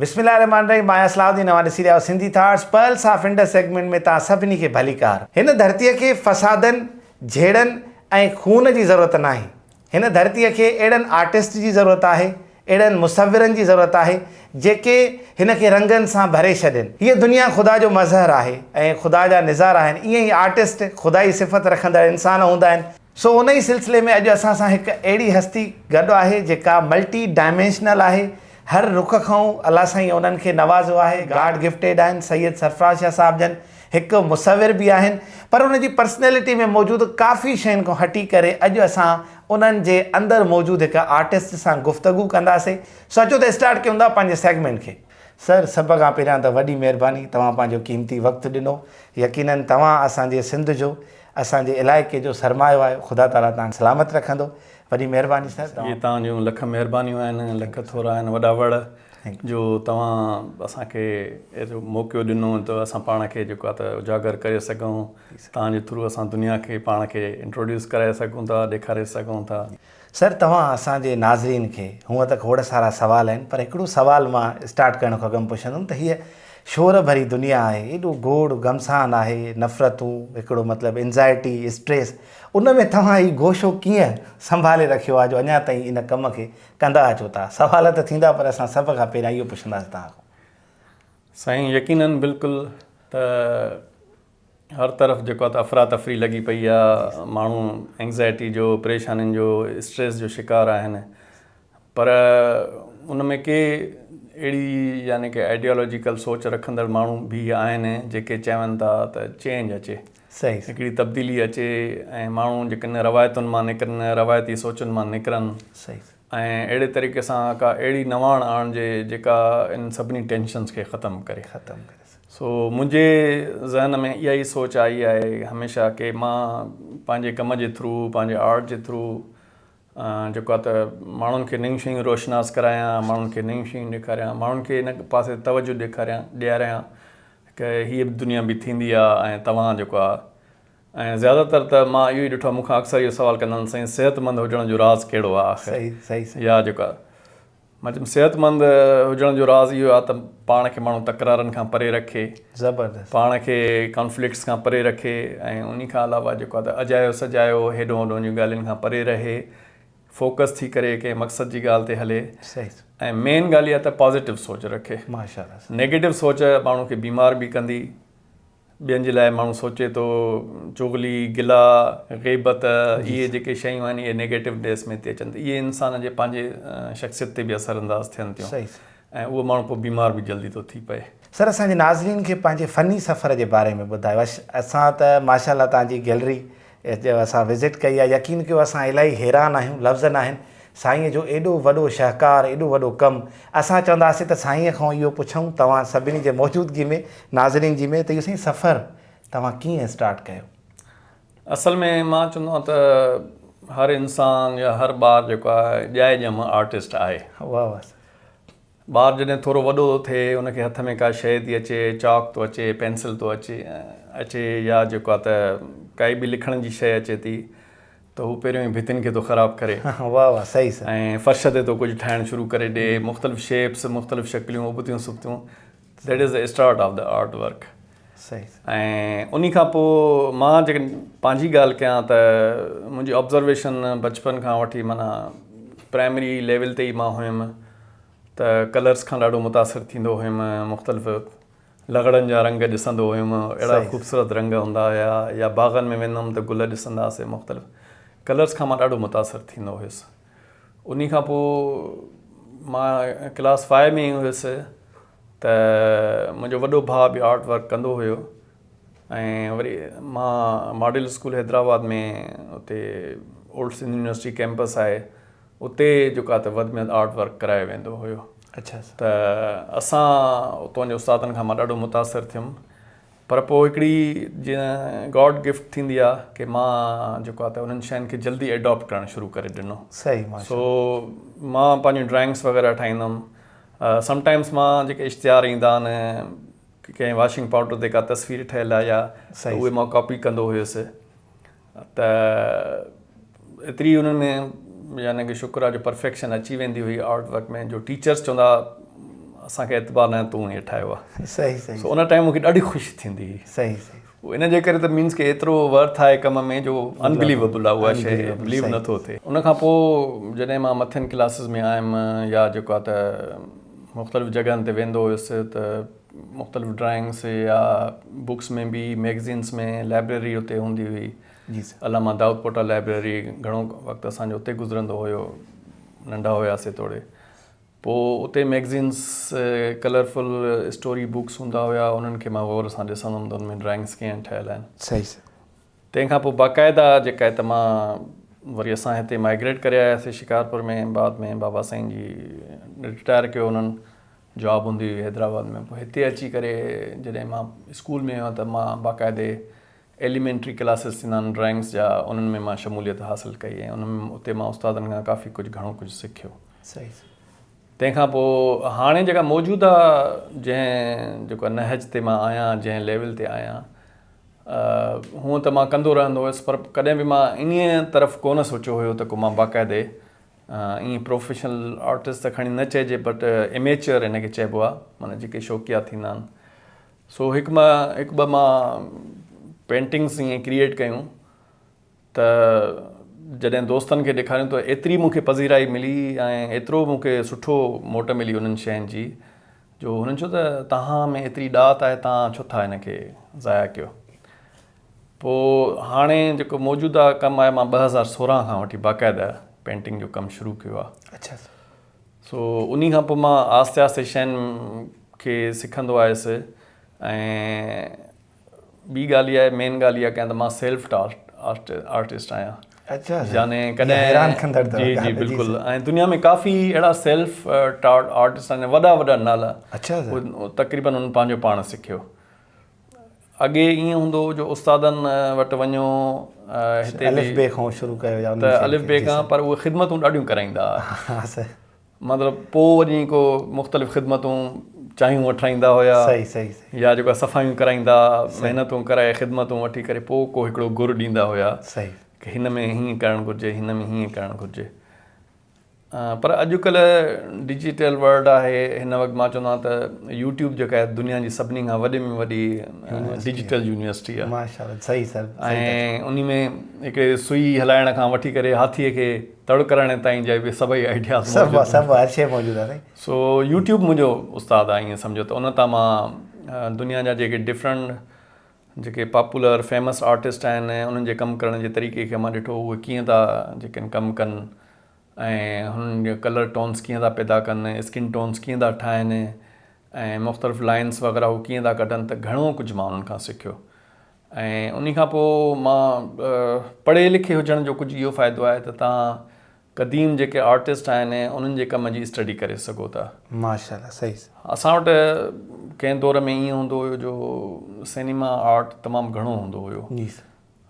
بسم الله الرحمٰن الرحيم آهيان صلاح الدين اوهان ڏسي رهيا آهيو Sindhi thoughts pearls of Indus segment ۾ توهان سڀني کي ڀليڪار هن ڌرتي کي فسادن جهيڙن ۽ خون جي ضرورت ناهي هن ڌرتي کي اهڙن آرٽسٽ جي ضرورت آهي اهڙن مصورن جي ضرورت آهي جيڪي هن کي رنگن سان ڀري ڇڏين هيء دنيا خدا جو مظهر آهي ۽ خدا جا نظار آهن ائين ئي آرٽسٽ خدائي صفت رکندڙ انسان هوندا آهن سو ان ئي سلسلي ۾ اڄ اسان سان هڪ اهڙي هستي گڏ آهي جيڪا ملٽي ڊائمينشنل آهي هر رخ کانئون الله سائين انهن کي نوازيو آهي گاڊ گفٽيڊ آهن سيد سرفراز شاهه صاحب جن هڪ مصور به آهن پر ان جي پرسنيلٽي ۾ موجود ڪافي شين کان هٽي ڪري اڄ اسان انهن جي اندر موجود هڪ آرٽسٽ سان گفتگو ڪنداسي سو اچو ته اسٽارٽ ڪيون ٿا پنهنجي سيگمينٽ کي. سر سڀ کان پهريان ته وڏي مهرباني توهان پنهنجو قيمتي وقت ڏنو يقينن توهان اسان جي سنڌ جو اسان جي علائقي جو سرمايو آهيو خدا تعالي تان سلامت رکندو وڏي مهرباني سر. جي توهان جون لک مهربانيون آهن لک ٿورا آهن وڏا وڙ جو توهان اسان کي اهڙو موقعو ڏنو ته اسان پاڻ کي جيڪو آهي ته اجاگر ڪري سگهون توهان جي ٿرو اسان دنيا کي پاڻ کي انٽروڊيوس ڪرائي سگهون ٿا ڏيکاري سگهون ٿا. سر توهان اسان جي ناظرين کي هونء ته کوڙ سارا سوال آهن پر هڪڙو سوال مان اسٽارٽ ڪرڻ کان اڳ م پڇندم ته هيء شور ڀري دنيا آهي ايڏو گوڙ گمسان آهي نفرتون هڪڙو مطلب انزائٽي اسٽريس ان ۾ توهان هي گوشو ڪيئن سنڀالي رکيو آهي جو اڃا تائين ان ڪم کي ڪندا اچو ٿا سوال ته ٿيندا پر اسان سڀ کان پهريان اهو پڇنداسين توهان کان. سائين يقينن بلڪل ته هر طرف جيڪو آهي ته افراتفري لڳي پئي آهي ماڻهو اينگزائٽي جو پريشانين جو اسٽريس جو شڪار آهن پر ان ۾ ڪي اهڙي يعني ڪي آئيڊيالوجيڪل سوچ رکندڙ ماڻهو به آهن جيڪي چون ٿا ته چينج اچي صحيح هڪڙي تبديلي اچي ۽ ماڻهو جيڪن روايتن مان نڪرن روايتي سوچن مان نڪرن صحيح ۽ اهڙي طريقي سان ڪا اهڙي نواڻ آڻجي جيڪا ان سڀني ٽينشنز کي ختم ڪري. ختم ڪري سگهجي. سو منهنجي ذهن ۾ اها ئي سوچ آئي آهي هميشه ڪي مان پنهنجي ڪم جي ٿرو پنهنجي آرٽ جي ٿرو جيڪو آهي ته ماڻهن کي نيون شيون روشناس ڪرايان ماڻهن کي نيون شيون ڏيکاريان ماڻهن کي ان پاسي توجه ڏيکاريان ڏياريان ڪه هيء به دنيا به ٿيندي آهي ۽ توهان جيڪو آهي ۽ زياده تر ته مان اهو ئي ڏٺو آهي مون کان اڪثر اهو سوال ڪندا آهن سائين صحتمند هجڻ جو راز ڪهڙو آهي آخر صحيح صحيح صحيح يا جيڪو آهي مان چيم صحتمند هجڻ جو راز اهو آهي ته پاڻ کي ماڻهو تڪرارن کان پري رکي زبردست پاڻ کي ڪانفلڪٽس کان پري رکي ۽ انهي کان علاوه جيڪو آهي ته اجايو سجايو هيڏو هوڏو جون ڳالهين کان پري رهي فوڪس ٿي ڪري ڪنهن مقصد جي ڳالهه تي هلي صحيح ۽ مين ڳالهه اها ته پازيٽو سوچ رکي ماشاء الله نيگيٽو سوچ ماڻهو کي بيمار به ڪندي ٻين جي لاء ماڻهو سوچي ٿو، چغلي، گلا، غيبت، اهي جيڪي شيون آهن اهي نيگيٽو بيس ۾ تي اچن ته اهي انسان جي پنهنجي شخصيت تي به اثر انداز ٿين ٿيون ۽ اهو ماڻهو پوء بيمار به جلدي ٿو ٿي پئي. سر اسان جي ناظرين کي پنهنجي فني سفر جي باري ۾ ٻڌايو. اسان ته ماشاءالله توهان جي گيلري جو اسان وزٽ ڪئي آهي يقين ڪيو اسان الائي حيران آهيون لفظ ناهن سائين جو ايڏو وڏو شهڪار ايڏو وڏو ڪم اسان چونداسين ته سائين کان اهو پڇون توهان سڀني جي موجودگي ۾ ناظرين جي ۾ ته اهو سائين سفر توهان ڪيئن اسٽارٽ ڪيو. اصل ۾ مان چوندو آهيان ته هر انسان يا هر ٻار جيڪو آهي ڄائي ڄم آرٽسٽ آهي. واهه واهه سائين. ٻار جڏهن ٿورو وڏو ٿو ٿئي، ان کي هٿ ۾ ڪا شيء ٿي اچي، چاڪ ٿو اچي، پينسل ٿو اچي اچي يا جيڪو آهي ته ڪائي به لکڻ جي شيء اچي ٿي ته هو پهريون ئي ڀتين کي ٿو خراب ڪري واهه واهه صحيح صحيح. ۽ فرش تي ٿو ڪجهه ٺاهڻ شروع ڪري ڏي، مختلف شيپس، مختلف شڪليون، ابتيون سبتيون. That is the start of the art work. صحيح. ۽ انهي کان پوء مان جيڪڏهن پنهنجي ڳالهه ڪيان ته منهنجي آبزرويشن بچپن کان وٺي معنيٰ پرائمري ليول تي ئي مان هيم ته ڪلرس کان ڏاڍو متاثر ٿيندو هيم مختلف لغڙن جا رنگ ڏسندو هيم اهڙا خوبصورت رنگ هوندا هيا يا باغن ۾ ويندم ته گل ڏسنداسي مختلف ڪلرس کان مان ڏاڍو متاثر ٿيندو هيس انهي کان پوء مان ڪلاس فائيو ۾ هيس ته منهنجو وڏو ڀاء به آرٽ ورڪ ڪندو هيو ۽ وري مان ماڊل اسڪول حيدرآباد ۾ اتي اولڊ سنڌ يونيورسٽي ڪيمپس آهي اتي جيڪا ته وڌ ۾ آرٽ ورڪ ڪرايو ويندو هيو اچا ته اسان اتان جي استادن کان مان ڏاڍو متاثر ٿيم پر پوء هڪڙي جيئن گاڊ گفٽ ٿيندي آ ڪي مان جيڪو آ ته انهن شين کي جلدي ايڊاپٽ ڪرڻ شروع ڪري ڏنو صحيح ماشاء سو مان پنهنجون ڊرائنگس وغيره ٺاهيندم سم ٽائمس مان جيڪي اشتهار ايندا آن ڪنهن واشنگ پاوڊر تي ڪا تصوير ٺهيل آ يا ته اهي مان ڪاپي ڪندو هيس ته ايتري انهن ۾ يعني ڪه شڪر آ جو پرفيڪشن اچي ويندي هئي آرٽ ورڪ ۾ جو ٽيچرس چوندا اسان کي اعتبار ناهي تون هي ٺاهيو آ صحيح صحيح سو ان ٽائيم مونکي ڏاڍي خوشي ٿيندي هئي صحيح صحيح سو ان جي ڪري ته مينس ڪه ايترو ورٿ آهي ڪم ۾ جو انبليوبل آ اها شي بليو نه ٿو ٿئي ان کان پو جڏهن مان مٿين ڪلاسز ۾ آيم يا جيڪو آ ته مختلف جڳهن تي ويندو هيس ته مختلف ڊرائنگس يا بڪس ۾ به ميگزينس ۾ لائبريري اتي هوندي هئي علامه دائود پوٽا لائبريري گهڻو وقت اسان جو اتي گذرندو هيو ننڍا هياسي توڙي پوء اتي ميگزينس ڪلرفل اسٽوري بڪس هوندا هيا انهن کي مان غور سان ڏسندو هوندو ان ۾ ڊرائنگس ڪيئن ٺهيل آهن صحيح سر تنهن کان پوء باقاعده جيڪا هت مان وري اسان هتي مائگريٽ ڪري آياسي شڪارپور ۾ بعد ۾ بابا سائين جي رٽائر ڪيو انهن جاب هوندي هئي حيدرآباد ۾ پوء هتي اچي ڪري جڏهن مان اسڪول ۾ هئان ته مان باقاعدي ايليمينٽري ڪلاسز ٿيندا آهن ڊرائنگس جا انهن ۾ مان شموليت حاصل ڪئي ۽ انهن ۾ اتي مان استادن کان ڪافي ڪجهه گهڻو ڪجهه سکيو صحيح تنهن کان پوء هاڻي جيڪا موجوده جنهن جيڪا نهج تي مان آهيان جنهن ليول تي آهيان هونء ته مان ڪندو رهندو هيس پر ڪڏهن به مان انهيء طرف ڪونه سوچيو هيو ته ڪو مان باقاعدي ائين پروفيشنل آرٽسٽ ته کڻي نه چئجي بٽ اميچيئر هن کي چئبو آهي معنيٰ جيڪي شوقيا ٿيندا آهن سو هڪ مان هڪ ٻه مان پينٽنگس ائين ڪريئيٽ ڪيون ته جڏهن دوستن کي ڏيکاريون ته ايتري مونکي پذيرائي ملي ۽ ايترو مونکي سٺو موٽ ملي انهن شين جي جو هنن چيو ته توهان ۾ ايتري ڏات آهي توهان ڇو ٿا هن کي ضايع ڪيو پوء هاڻي جيڪو موجوده ڪم آهي مان ٻه هزار سورهن کان وٺي باقاعده پينٽنگ جو ڪم شروع ڪيو آهي اچا سر سو انهي کان پوء مان آهستي آهستي شين کي سکندو آيس ۽ ٻي ڳالهه اها آهي مين ڳالهه اها ڪيان ته مان سيلف ٽاسڪ آرٽسٽ آهيان اچا يعني ڪڏهن حيران ڪندڙ جي جي بلڪل ۽ دنيا ۾ ڪافي اهڙا سيلف ٽارٽ آرٽسٽ آهن وڏا وڏا نالا اچا تقريبن ان پنهنجو پاڻ سکيو اڳي ائين هوندو هو جو استادن وٽ وڃو هتي الف بي کان شروع ڪيو يا ته الف بي کان پر اهي خدمتون ڏاڍيون ڪرائيندا هئا مطلب پوء وڃي ڪو مختلف خدمتون چانهيون وٺرائيندا هيا صحيح صحيح يا جيڪا صفايون ڪرائيندا محنتون ڪرائي خدمتون وٺي ڪري پوء ڪو هڪڙو گر ڏيندا هيا صحيح هن ۾ هيئن ڪرڻ گهرجي هن ۾ هيئن ڪرڻ گهرجي پر اڄڪلهه ڊجيٽل ورلڊ آهي هن وقت مان چوندو آهيان ته يوٽيوب جيڪا آهي دنيا جي سڀني کان وڏي ۾ وڏي ڊجيٽل يونيورسٽي آهي ماشاءالله صحيح سر ۽ انهي ۾ هڪڙي سوئي هلائڻ کان وٺي ڪري هاٿي کي تڙ ڪرڻ تائين جي به سڀئي آئيڊياز سڀ سڀ هر شيء موجود آهي سائين سو يوٽيوب منهنجو استاد آهي ائين سمجهو ته ان تان مان دنيا جا جيڪي ڊفرنٽ جيڪي پاپولر فيمس آرٽسٽ آهن انهن جي ڪم ڪرڻ جي طريقي کي مان ڏٺو اهي ڪيئن ٿا جيڪن ڪم ڪن ۽ هنن جا ڪلر ٽونس ڪيئن ٿا پيدا ڪن اسڪن ٽونس ڪيئن ٿا ٺاهن ۽ مختلف لائنس وغيره هو ڪيئن ٿا ڪڍن ته گهڻو ڪجهه مان انهن کان سکيو ۽ انهي کان پوء مان پڙهي لکي هجڻ جو ڪجهه اهو فائدو آهي ته تان قديم جيڪي آرٽسٽ آهن انهن جي ڪم جي اسٽڊي ڪري سگهو ٿا. ماشاءالله صحيح سر. اسان وٽ ڪنهن دور ۾ ائين هوندو هيو جو سينيما آرٽ تمام گهڻو هوندو هيو. جي سر.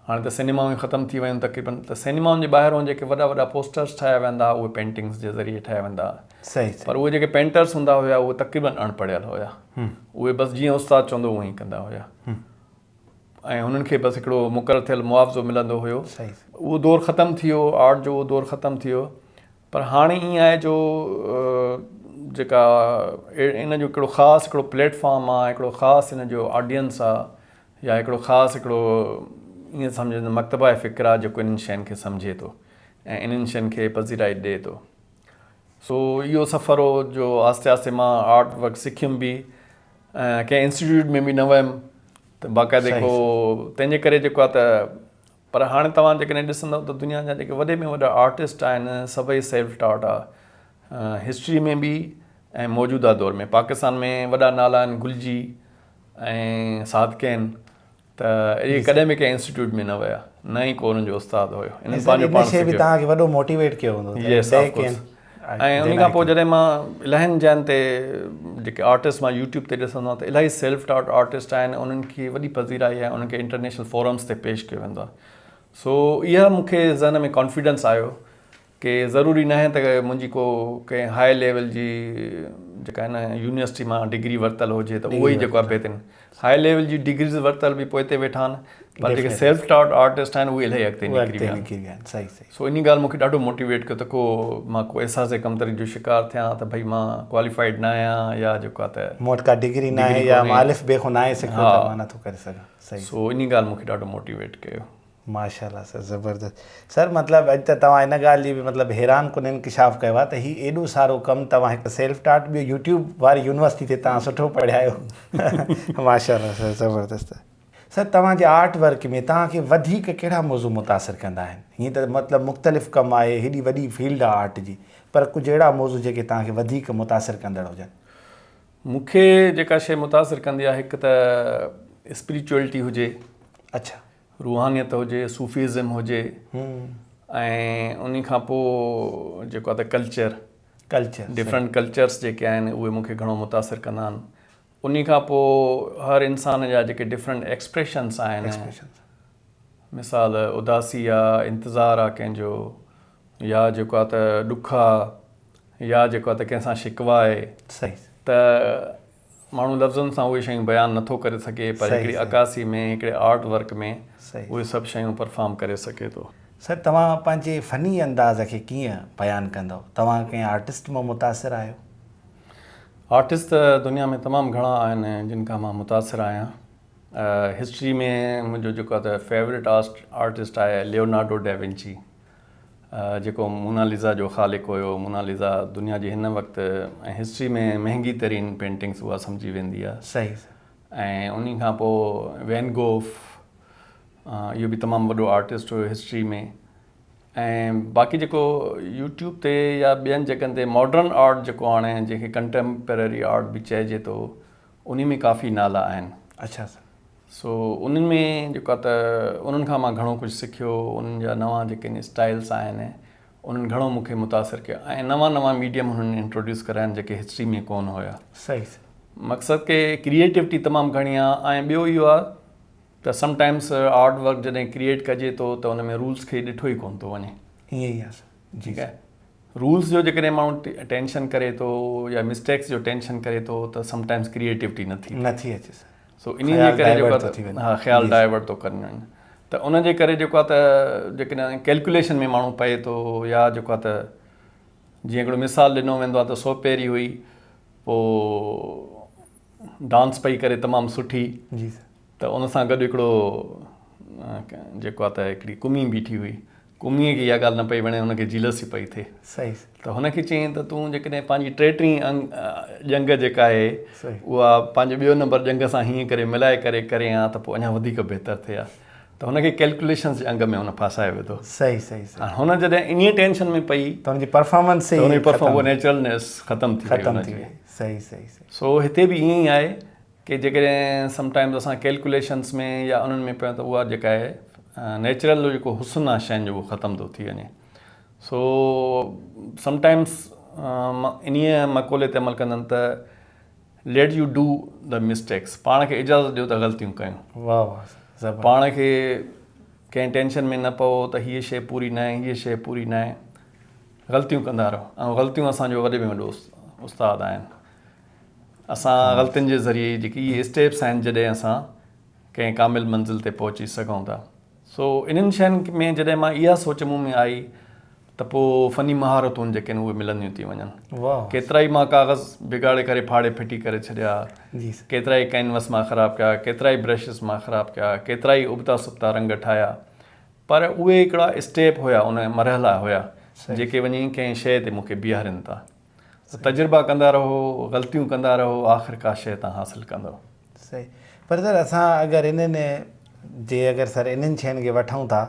هاڻي ته سينيمائون ئي ختم ٿي ويون تقريبن ته سينيمائن جي ٻاهرون جيڪي وڏا وڏا پوسٽرس ٺاهيا ويندا هئا اهي پينٽنگس جي ذريعي ٺاهيا ويندا هئا. صحيح سر. پر اهي جيڪي پينٽرس هوندا هيا اهي تقريبن اڻ پڙهيل هيا. اهي بس جيئن استاد چوندو هو اهين ڪندا هيا. ۽ هنن کي بس هڪڙو مقرر ٿيل معاوضو ملندو هيو اهو دور ختم ٿي ويو آرٽ جو اهو دور ختم ٿي ويو پر هاڻي ائين آهي جو جيڪا ان جو هڪڙو خاص هڪڙو پليٽ فارم آهي هڪڙو خاص ان جو آڊينس آهي يا هڪڙو خاص هڪڙو ائين سمجهن مڪتبه فڪر آهي جيڪو انهن شين کي سمجهي ٿو ۽ انهن شين کي پذيرائي ڏي ٿو سو اهو سفر هو جو آهستي آهستي مان آرٽ ورڪ سکيم به ڪنهن انسٽيٽيوٽ ۾ به نه ويم ته باقاعده ڪو تنهنجي ڪري جيڪو آهي ته پر هاڻي توهان جيڪڏهن ڏسندو ته دنيا جا جيڪي وڏي ۾ وڏا آرٽسٽ آهن سڀئي سيلف ٽاٽ آهي هسٽري ۾ به ۽ موجوده دور ۾ پاڪستان ۾ وڏا نالا آهن گلجي ۽ صادقين ته اهي ڪڏهن به ڪنهن انسٽيٽيوٽ ۾ نه ويا نه ئي ڪو انهن جو استاد هيو انهن پنهنجو پاڻ سکيو ۽ ان کان پوء جڏهن مان الاهين جاين تي جيڪي آرٽسٽ مان يوٽيوب تي ڏسندو آهيان ته الاهي سيلف ٽاٽ آرٽسٽ آهن انهن کي وڏي پذيرائي آهي انهن کي انٽرنيشنل فورمس تي پيش ڪيو ويندو آهي سو اها مون کي ذهن ۾ ڪانفيڊنس آيو ڪي ضروري ناهي ته منهنجي ڪو ڪنهن هاء ليول جي جيڪا آهي نه يونيورسٽي مان ڊگري ورتل هجي ته اهو ئي جيڪو آهي بهترين هاء ليول جي ڊگريز ورتل به پوئتي ويٺا آهن پر جيڪي سيلف ٽاٽ آرٽسٽ آهن اهي الائي اڳتي نڪري ويا آهن صحيح صحيح سو انهي ڳالهه مونکي ڏاڍو موٽيويٽ ڪيو ته ڪو مان ڪو احساس ڪمتري جو شڪار ٿيان ته ڀئي مان ڪواليفائيڊ ناهيان يا جيڪو آهي ته مون وٽ ڪا ڊگري ناهي يا مان الف بي کان ناهي سکيو ته مان نٿو ڪري سگهان سو انهي ڳالهه مونکي ڏاڍو موٽيويٽ ڪيو. ماشاءالله سر زبردست سر مطلب اڄ ته توهان ان ڳالهه جي به مطلب حيران ڪن انڪشاف ڪيو آهي ته هي ايڏو سارو ڪم توهان هڪ سيلف ٽاٽ ٻيو يوٽيوب واري يونيورسٽي تي توهان سٺو پڙهيا آهيو ماشاءالله سر زبردست سر توهان جي آرٽ ورڪ ۾ توهان کي وڌيڪ ڪهڙا موضوع متاثر ڪندا آهن هيئن ته مطلب مختلف ڪم آهي هيڏي وڏي فيلڊ آهي آرٽ جي پر ڪجهه اهڙا موضوع جيڪي توهان کي وڌيڪ متاثر ڪندڙ هجن مون کي جيڪا شيء متاثر ڪندي آهي هڪ ته اسپريچوئلٽي هجي اڇا روحانيت هجي، صوفيزم هجي ۽ انهي کان پوء جيڪو آهي ته ڪلچر، ڊفرنٽ ڪلچرس جيڪي آهن اهي مون کي گهڻو متاثر ڪندا آهن. انهي کان پوء هر انسان جا جيڪي ڊفرنٽ ايڪسپريشنس آهن، مثال اداسي آ، انتظار آ ڪنهن جو يا جيڪو آهي ته ڏک آ يا جيڪو آهي ته ڪنهن سان شڪوه آهي ته ماڻهو لفظن سان اهي شيون بيان نه ٿو ڪري سگهي پر هڪڙي عڪاسي ۾ هڪڙي آرٽ ورڪ ۾ اهي سڀ شيون پرفارم ڪري سگهي ٿو. سر توهان پنهنجي فني انداز کي ڪيئن بيان ڪندؤ؟ توهان ڪنهن آرٽسٽ مان متاثر آهيو؟ آرٽسٽ ته دنيا ۾ تمام گهڻا آهن جن کان مان متاثر آهيان. هسٽري ۾ منهنجو جيڪو ته فيوريٽ آرٽسٽ آهي ليونارڊو ڊيونچي. جيڪو موناليزا جو خالق هيو. موناليزا دنيا جي هن وقت ۽ هسٽري ۾ مهنگي ترين پينٽنگس اها سمجهي ويندي آهي. صحيح صحيح. ۽ انهي کان پوء وين گوف اهو به تمام وڏو آرٽسٽ هيو هسٽري ۾ ۽ باقي جيڪو يوٽيوب تي يا ٻين جڳهن تي ماڊرن آرٽ جيڪو هاڻي جنهن کي ڪنٽيمپرري آرٽ به چئجي ٿو. انهي ۾ ڪافي نالا آهن. اڇا سر سو انهن ۾ جيڪو آهي ته انهن کان مان گهڻو ڪجهه سکيو انهن جا نوان جيڪي ان اسٽائلس آهن انهن گهڻو مون کي متاثر ڪيو ۽ نوان نوان ميڊيم انهن انٽروڊيوس ڪريا آهن جيڪي هسٽري ۾ ڪون هيا صحيح سر مقصد ڪي ڪريئيٽوٽي تمام گهڻي آ ۽ ٻيو اهو آ ته سم ٽائمس آرٽ ورڪ جڏهن ڪريئيٽ ڪجي ٿو ته ان ۾ رولس کي ڏٺو ئي ڪون ٿو وڃي ائين ئي آ سر جي ڪا رولز جو جيڪڏهن ماڻهو ٽينشن ڪري ٿو يا مسٽيڪس جو ٽينشن ڪري ٿو ته سم ٽائمز ڪريئيٽوٽي نه ٿي نه ٿي اچي سو انهي جي ڪري جيڪو آهي ها خيال ڊائيورٽ ٿو ڪن ته ان جي ڪري جيڪو آهي ته جيڪڏهن ڪيلڪوليشن ۾ ماڻهو پئي ٿو يا جيڪو آهي ته جيئن هڪڙو مثال ڏنو ويندو آهي ته سوپيري هئي پوء ڊانس پئي ڪري تمام سٺي جي سر ته ان سان گڏ هڪڙو جيڪو آ ته هڪڙي ڪمي بيٺي هئي ڪمي کي اها ڳالهه نه پئي وڻي ان کي جيلسي پئي ٿئي صحيح ته هن کي چيائين ته تون جيڪڏهن پنهنجي ٽي ٽين ڄنگ جيڪا آهي اها پنهنجو ٻيو نمبر ڄنگ سان هيئن ڪري ملائي ڪري ڪري ها ته پوء اڃا وڌيڪ بهتر ٿئي ها ته هن کي ڪيلڪوليشنز جي انگ ۾ هن ڦاسائي وڌو صحيح صحيح صحيح هن جڏهن انهي ٽينشن ۾ پئي ته هن جي پرفارمنس هي پرفارمنس نيچرلنس ختم ٿي وئي ختم ٿي وئي صحيح صحيح سو هتي به ائين ئي آهي ڪي جيڪڏهن سم ٽائمز اسان ڪيلڪوليشنس ۾ يا انهن ۾ پيون ته اها جيڪا آهي نيچرل جو جيڪو حسن آهي شين جو اهو ختم ٿو ٿي وڃي سو سم ٽائمز انهي مقولي تي عمل ڪندن ته let you do the mistakes پاڻ کي اجازت ڏيو ته غلطيون ڪيون واهه واهه پاڻ کي ڪنهن ٽينشن ۾ نه پئو ته هيء شيء پوري نه آهي هيء شيء پوري نه آهي غلطيون ڪندا رهو ۽ غلطيون اسان جو وڏي ۾ وڏو استاد آهن اسان غلطين جي ذريعي جيڪي اهي اسٽيپس آهن جڏهن اسان ڪنهن ڪامل منزل تي پهچي سگهون ٿا سو انهن شين ۾ جڏهن مان اها سوچ مون ۾ آئي ته پوء فني مهارتون جيڪي اهي ملنديون ٿي وڃن ڪيترا ئي مان ڪاغذ بگاڙي ڪري ڦاڙي ڦٽي ڪري ڇڏيا جي سر ڪيترا ئي ڪينوس مان خراب ڪيا ڪيترا ئي برشز مان خراب ڪيا ڪيترا ئي ابتا سبتا رنگ ٺاهيا پر اهي هڪڙا اسٽيپ هيا ان مرحلا هيا جيڪي وڃي ڪنهن شيء تي مون کي بيهارين ٿا ته تجربا ڪندا رهو غلطيون ڪندا رهو آخر ڪا شيء تان حاصل ڪندؤ. صحيح پر سر اسان اگر انهن جي اگر سر انهن شين کي وٺون ٿا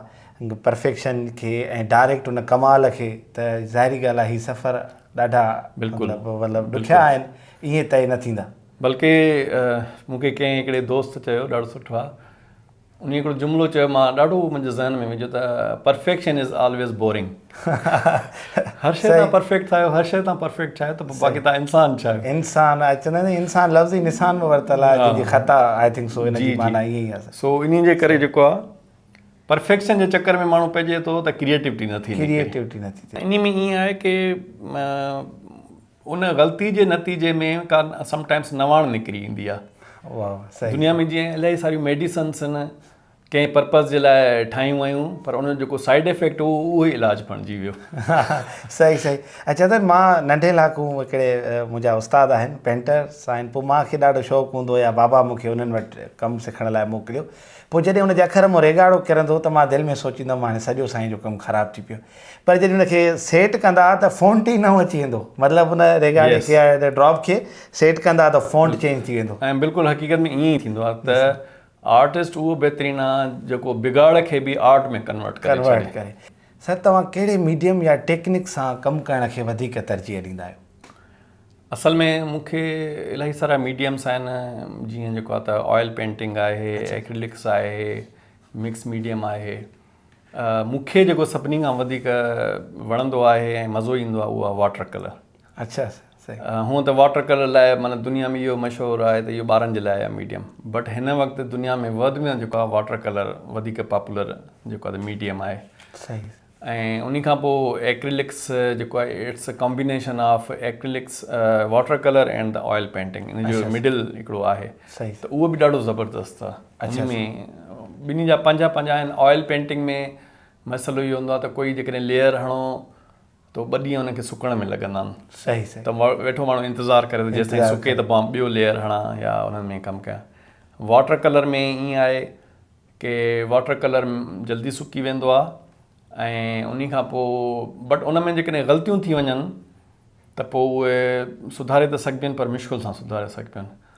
پرفيڪشن کي ۽ ڊائريڪٽ ان ڪمال کي ته ظاهري ڳالهه آهي هي سفر ڏاڍا بلڪل مطلب ڏکيا آهن ايئن طئي نه ٿيندا. بلڪه مون کي ڪنهن هڪڙي دوست چيو ڏاڍو سٺو آ انهي هڪڙو جملو چيو مان ڏاڍو منهنجي ذهن ۾ ويجهو ته پرفيڪشن از آلويز بورنگ هر شيء تان پرفيڪٽ ٿا آهيو هر شيء تان پرفيڪٽ ٺاهيو ته باقي تان انسان ڇا آهيو انسان آهي چوندا آهن انسان لفظ ئي نسان ۾ ورتل آهي جي جي خطا آئي ٿنڪ سو ان جي معنيٰ ائين ئي آهي سو انهي جي ڪري جيڪو آهي پرفيڪشن جي چڪر ۾ ماڻهو پئجي ٿو ته ڪريئيٽوٽي نه ٿي نڪري ڪريئيٽوٽي نه ٿي ٿئي انهي ۾ ائين آهي ڪي ان غلطي جي نتيجي ۾ ڪا سم ٽائمس نواڻ نڪري ايندي آ دنيا ۾ جيئن الائي ساريون ميڊيسنس ان ڪنهن پرپز جي لاء ٺاهيون ويون پر ان جو جيڪو سائيڊ افيڪٽ هو اهو ئي علاج بڻجي ويو صحيح صحيح ۽ چندر مان ننڍي لاکو هڪڙي منهنجا استاد آهن پينٽر سائن پوء مان کي ڏاڍو شوق هوندو يا بابا مون کي انهن وٽ ڪم سکڻ لاء موڪليو پوء جڏهن ان جي اکر مون ريگاڙو ڪرندو ته مان دل ۾ سوچيندم هاڻي سڄو سائين جو ڪم خراب ٿي پيو پر جڏهن ان کي سيٽ ڪندا ته فونٽ ئي نئون اچي ويندو مطلب ان ريڪارڊنگ کي يا ڊراپ کي سيٽ ڪندا ته فونٽ چينج ٿي ويندو. ۽ بلڪل حقيقت ۾ ائين ئي ٿيندو آهي ته آرٽسٽ اهو بهترين آهي جيڪو بگاڙ کي به آرٽ ۾ ڪنورٽ ڪري ڇڏي. سر توهان ڪهڙي ميڊيم يا ٽيڪنڪ سان ڪم ڪرڻ کي وڌيڪ ترجيح ڏيندا آهيو؟ اصل ۾ مون کي الاهي سارا ميڊيمس آهن جيئن جيڪو آهي ته آئل پينٽنگ آهي ايڪرلڪس آهي مڪس ميڊيم آهي. مون کي جيڪو سڀني کان وڌيڪ وڻندو آهي ۽ مزو ايندو آهي اهو آهي واٽر ڪلر اچھا هونء ته واٽر ڪلر لاء معنيٰ دنيا ۾ اهو مشهور آهي ته اهو ٻارن جي لاء آهي ميڊيم بٽ هن وقت دنيا ۾ ورلڊ ۾ جيڪو آهي واٽر ڪلر وڌيڪ پاپولر جيڪو آهي ميڊيم آهي صحيح ۽ ان کان پوء ايڪريلڪس جيڪو آهي it's a combination of acrylics water colour and oil painting ان جو مڊل هڪڙو آهي ته اهو به ڏاڍو زبردست آهي اچھا ۾ ٻنهي جا پنهنجا پنهنجا آهن آئل پينٽنگ ۾ مسئلو اهو هوندو آهي ته ڪوئي جيڪڏهن ليئر هڻو تو ٻه ڏينهن ان کي سڪڻ ۾ لڳندا آهن صحيح صحيح ته ويٺو ماڻهو انتظار ڪري ته جيسين سڪي ته پوء ٻيو ليئر هڻا يا انهن ۾ ڪم ڪيا واٽر ڪلر ۾ ائين آهي ڪي واٽر ڪلر جلدي سڪي ويندو آهي ۽ انهي کان پوء بٽ ان ۾ جيڪڏهن غلطيون ٿي وڃن ته پوء اهي سڌاري ته سگهبين پر مشڪل سان سڌاري سگهبين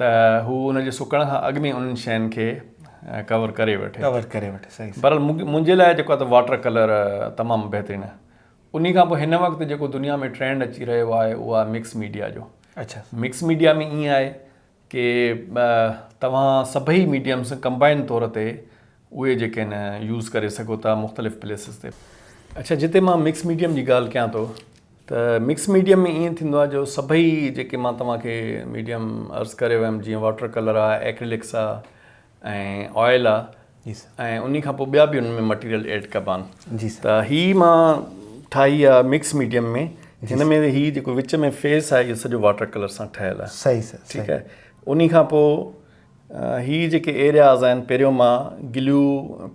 ته هو ان جي سڪڻ کان اڳ ۾ انهن شين کي ڪور ڪري وٺي. بهرحال منهنجي لاء جيڪو آهي ته واٽر ڪلر تمام بهترين آهي. انهي کان پوء هن وقت جيڪو دنيا ۾ ٽرينڊ اچي رهيو آهي اهو آهي مڪس ميڊيا جو. مڪس ميڊيا ۾ ائين آهي ڪي توهان سڀئي ميڊيمس ڪمبائن طور تي اهي جيڪي نه يوز ڪري سگهو ٿا مختلف پليسز تي. اڇا جتي مان مڪس ميڊيم جي ڳالهه ڪيان ٿو ته مڪس ميڊيم ۾ ائين ٿيندو آهي جو سڀئي جيڪي مان توهان کي ميڊيم عرض ڪري ويم جيئن واٽر ڪلر آ ايڪريلڪس آ ۽ آئل آ جي سر ۽ انهي کان پوء ٻيا به ان ۾ مٽيريل ايڊ ڪبا آهن جي سر ته هي مان ٺاهي آ مڪس ميڊيم ۾ جن ۾ هي جيڪو وچ ۾ فيس آ اهو سڄو واٽر ڪلر سان ٺهيل آ صحيح سر ٺيڪ آ انهي کان پوء هي جيڪي ايرياز آهن پهريون مان گليو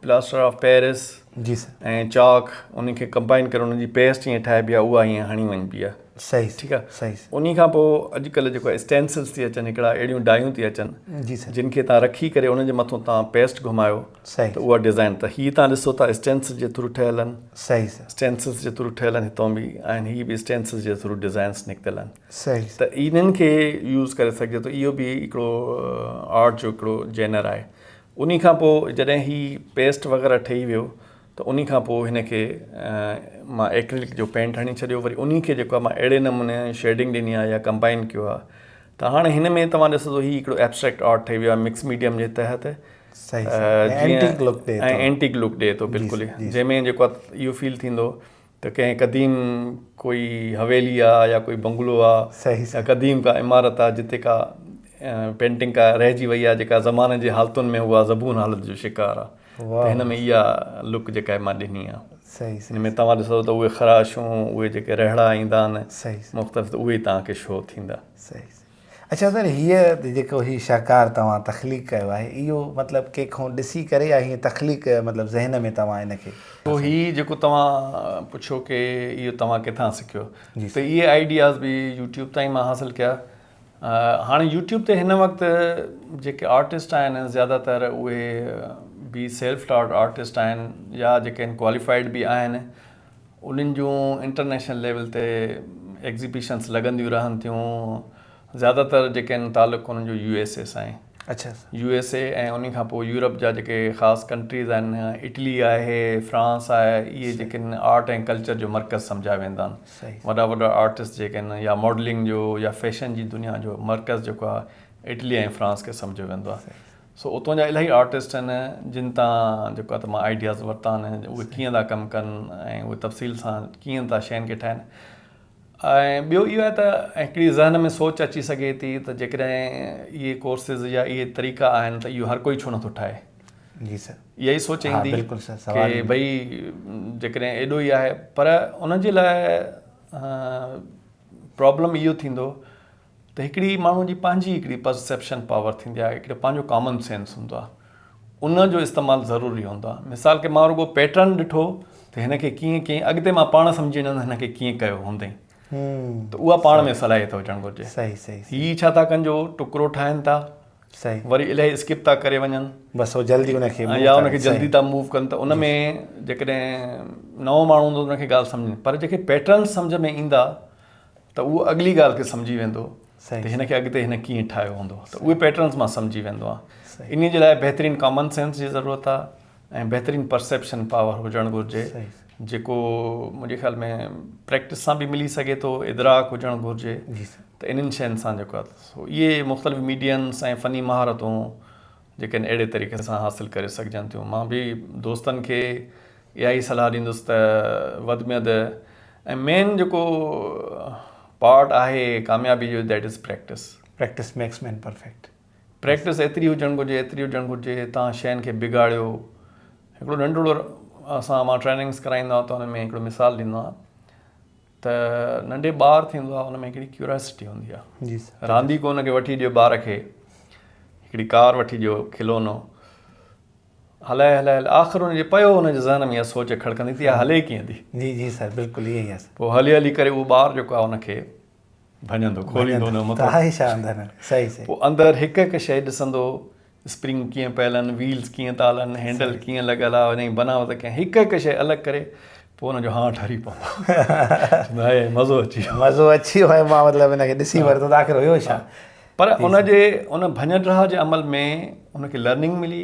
پلاسٽر آف پيرس جي سر ۽ چاڪ انهن کي ڪمبائن ڪري انهن جي پيسٽ ائين ٺاهبي آهي اها ائين هڻي وڃبي آهي صحيح ٺيڪ آهي صحيح انهي کان پوء اڄڪلهه جيڪو اسٽينسلس ٿي اچن هڪڙا اهڙيون ڊايون ٿي اچن جي سر جن کي تان رکي ڪري انهن جي مٿو تان پيسٽ گهمايو صحيح ته اها ڊيزائن ته هي تان ڏسو ٿا اسٽينسل جي ٿرو ٺهيل آهن صحيح سر اسٽينسلس جي ٿرو ٺهيل آهن هتو به آهن هي به اسٽينسل جي ٿرو ڊيزائنس نڪتل آهن صحيح ته انهن کي يوز ڪري سگهجي ٿو اهو به هڪڙو آرٽ جو هڪڙو جينر آهي انهي کان پوء جڏهن هي پيسٽ وغيره ٺهي ويو ته انهي کان پوء هن کي مان ايڪريلڪ جو پينٽ هڻي ڇڏيو وري انهي کي جيڪو آهي مان اهڙي نموني شيڊنگ ڏني آهي يا ڪمبائن ڪيو آهي ته هاڻي هن ۾ توهان ڏسو ته هي هڪڙو ايبسٽريڪٽ آرٽ ٺهي ويو آهي مڪس ميڊيم جي تحت صحيح صحيح ۽ اينٽيڪ لڪ ڏي ٿو ۽ اينٽيڪ لڪ ڏي ٿو بلڪل جنهن ۾ جيڪو اهو فيل ٿيندو ته ڪنهن قديم ڪوئي حويلي آ يا ڪوئي بنگلو آ يا قديم ڪا عمارت آ جتي ڪا پينٽنگ ڪا رهجي وئي آ جيڪا زماني جي حالتن ۾ اها زبون حالت جو شڪار آ ته هن ۾ اها لڪ جيڪا آهي مان ڏني آ هن ۾ توهان ڏسو ته اهي خراشون اهي جيڪي رهڙا ايندا آهن مختلف ته اهي توهان کي شو ٿيندا. اڇا سر هيء جيڪو هي شاهڪار توهان تخليق ڪيو آهي اهو مطلب ڪنهن کون ڏسي ڪري يا هيئن تخليق مطلب ذهن ۾ توهان ان کي سو هي جيڪو توهان پڇيو ڪي اهو توهان ڪٿان سکيو ته اهي آئيڊياز به يوٽيوب تان ئي مان حاصل ڪيا هاڻي يوٽيوب تي هن وقت جيڪي آرٽسٽ آهن زياده تر اهي به سيلف ٽاٽ آرٽسٽ آهن يا جيڪي ان ڪواليفائيڊ به آهن انهن جون انٽرنيشنل ليول تي ايگزيبيشنس لڳنديون رهن ٿيون زياده تر جيڪي آهن تعلق انهن جو يو ايس اي سان آهي اڇا يو ايس اي ۽ انهي کان پوء يورپ جا جيڪي خاص ڪنٽريز آهن اٽلي آهي فرانس آهي اهي جيڪي آهن آرٽ ۽ ڪلچر جو مرڪز سمجهيا ويندا آهن صحيح وڏا وڏا آرٽسٽ جيڪي آهن يا ماڊلنگ جو يا فيشن جي دنيا جو مرڪز جيڪو آهي اٽلي ۽ فرانس کي سمجهيو ويندو آهي سو اتان جا الاهي آرٽسٽ آهن جن تان جيڪو آهي ته مان آئيڊياز ورتا آهن اهي ڪيئن ٿا ڪم ڪن ۽ اهي تفصيل سان ڪيئن ٿا شين کي ٺاهن ۽ ٻيو اهو آهي ته هڪڙي ذهن ۾ سوچ اچي سگهي ٿي ته جيڪڏهن اهي ڪورسز يا اهي طريقا آهن ته اهو هر ڪوئي ڇو نٿو ٺاهي جي سر اها ئي سوچ ايندي ڪي ڀئي جيڪڏهن ايڏو ئي آهي پر ان جي لاء پرابلم اهو ٿيندو ته هڪڙي ماڻهو جي پنهنجي هڪڙي پرسيپشن پاور ٿيندي آهي هڪڙو پنهنجو ڪامن سينس هوندو آهي ان جو استعمال ضروري هوندو آهي مثال کي مان رڳو پيٽرن ڏٺو ته هن کي ڪيئن ڪيئن اڳتي مان پاڻ سمجهي وڃان هن کي ڪيئن ڪيو هوندئي ته اها پاڻ ۾ صلاحيت هجڻ گهرجي صحيح صحيح هي ڇا ٿا ڪن جو ٽڪرو ٺاهن ٿا صحيح وري الائي اسڪپ ٿا ڪري وڃن بس هو جلدي ان کي يا ان کي جلدي ٿا موو ڪن ته ان ۾ جيڪڏهن نئون ماڻهو هوندو ان کي ڳالهه سمجهه پر جيڪي پيٽرن سمجهه ۾ ايندا ته اهو اڳلي ڳالهه کي سمجهي ويندو ته هن کي اڳتي هن ڪيئن ٺاهيو هوندو ته اهي پيٽرنس مان سمجهي ويندو آهي ان جي لاء بهترين ڪامن سينس جي ضرورت آهي ۽ بهترين پرسيپشن پاور هجڻ گهرجي جيڪو منهنجي خيال ۾ پريڪٽس سان به ملي سگهي ٿو ادراڪ هجڻ گهرجي ته انهن شين سان جيڪو اهي مختلف ميڊينس ۽ فني مهارتون جيڪي اهڙي طريقي سان حاصل ڪري سگهجن ٿيون. مان به دوستن کي اها ئي صلاح ڏيندس ته وڌ ۾ وڌ ۽ مين جيڪو پارٽ آهي ڪاميابي جو that is practice. Practice makes man perfect. Practice ايتري هجڻ گهرجي ايتري هجڻ گهرجي توهان شين کي بگاڙيو هڪڙو ننڍڙو اسان مان ٽريننگس ڪرائيندا تو هن ۾ هڪڙو مثال ڏيندو آهيان. ته ننڍي ٻار ٿيندو آهي ان ۾ هڪڙي ڪيوراسٽي هوندي آهي رانديڪو ان کي وٺي ڏيو ٻار کي هڪڙي ڪار وٺي ڏيو کلونو هلائي هلائي آخر ان جي پيو ان جي ذهن ۾ اها سوچ کڙڪندي ٿي هلي ڪيئن ٿي جي جي سر بلڪل ائين ئي آهي پوء هلي هلي ڪري اهو ٻار جيڪو آهي ان کي ڀڃندو کوليندو نه مطلب صحيح صحيح پوء اندر هڪ هڪ شيء ڏسندو اسپرنگ ڪيئن پيل آهن، ويلز ڪيئن تال آهن، هينڊل ڪيئن لڳل آهي، ان جي بناوت ڪيئن آهي، هڪ هڪ شيء الڳ ڪري پوء ان جو هانء ٺري پوندو چوندو هاء مزو اچي ويو مزو اچي ويو هاء مان مطلب ان کي ڏسي ورتو ته آخر هيو ڇا. پر ان جي ان ڀڃ ڊاهه جي عمل ۾ ان کي لرننگ ملي،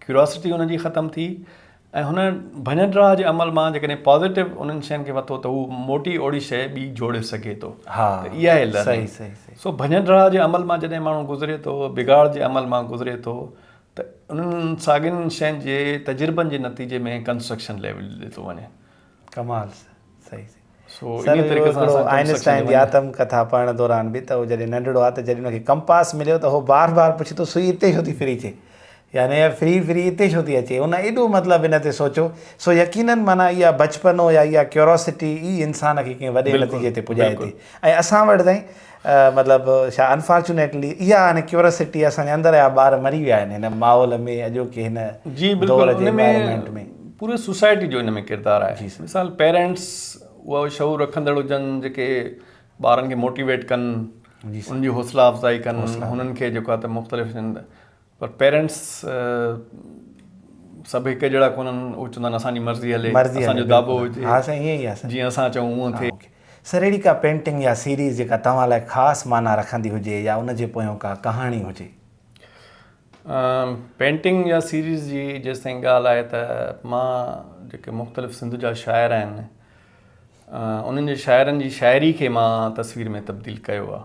ڪيوراسٽي ان جي ختم ٿي ۽ هن ڀڃٽراء جي عمل مان جيڪڏهن پازيٽو انهن شين کي وتو ته هو موٽي اوڙي شيء ٻي جوڙي سگهي ٿو ها ته اها آهي لرننگ سو ڀڃٽراء جي عمل مان جڏهن ماڻهو گذري ٿو بگاڙ جي عمل مان گذري ٿو ته انهن ساڳين شين جي تجربن جي نتيجي ۾ ڪنسٽرڪشن ليول ڏي ٿو وڃي ڪمال صحيح صحيح سو انهي طريقي سان اسان آئنسٽائن جي آتم ڪٿا پڙهڻ دوران به ته هو جڏهن ننڍڙو آ ته جڏهن ان کي ڪمپاس مليو ته هو بار بار پڇي ٿو سوئي اتي ڇو ٿي ڦري اچي يعني يار ڦري ڦري اتي ڇو ٿي اچي ان ايڏو مطلب ان تي سوچيو سو يقينن معنيٰ اها بچپنو يا اها ڪيوراسٽي ئي انسان کي ڪنهن وڏي نتيجي تي پڄائي ٿي ۽ اسان وٽ تائين مطلب ڇا انفارچونيٽلي اها هاڻي ڪيوراسٽي اسان جي اندر آهي ٻار مري ويا آهن هن ماحول ۾ اڄوڪي هن جي بلڪل ان ۾ پوري سوسائٽي جو ان ۾ ڪردار آهي مثال پيرنٽس اهو شعور رکندڙ هجن جيڪي ٻارن کي موٽيويٽ ڪن ان جي حوصلا افزائي ڪن انهن کي جيڪو آهي ته مختلف پر پيرنٽس سڀ هڪ جهڙا ڪونهن آهن هو چوندا آهن اسان جي مرضي هلي اسان جو دابو هجي ها سائين ائين ئي آهي سائين جيئن اسان چئون هونئن ٿئي. سر اهڙي ڪا پينٽنگ يا سيريز جيڪا توهان لاء خاص معنيٰ رکندي هجي يا ان جي پويان ڪا ڪهاڻي هجي. پينٽنگ يا سيريز جي جيستائين ڳالهه آهي ته مان جيڪي مختلف سنڌ جا شاعر آهن انهن جي شاعرن جي شاعري کي مان تصوير ۾ تبديل ڪيو آهي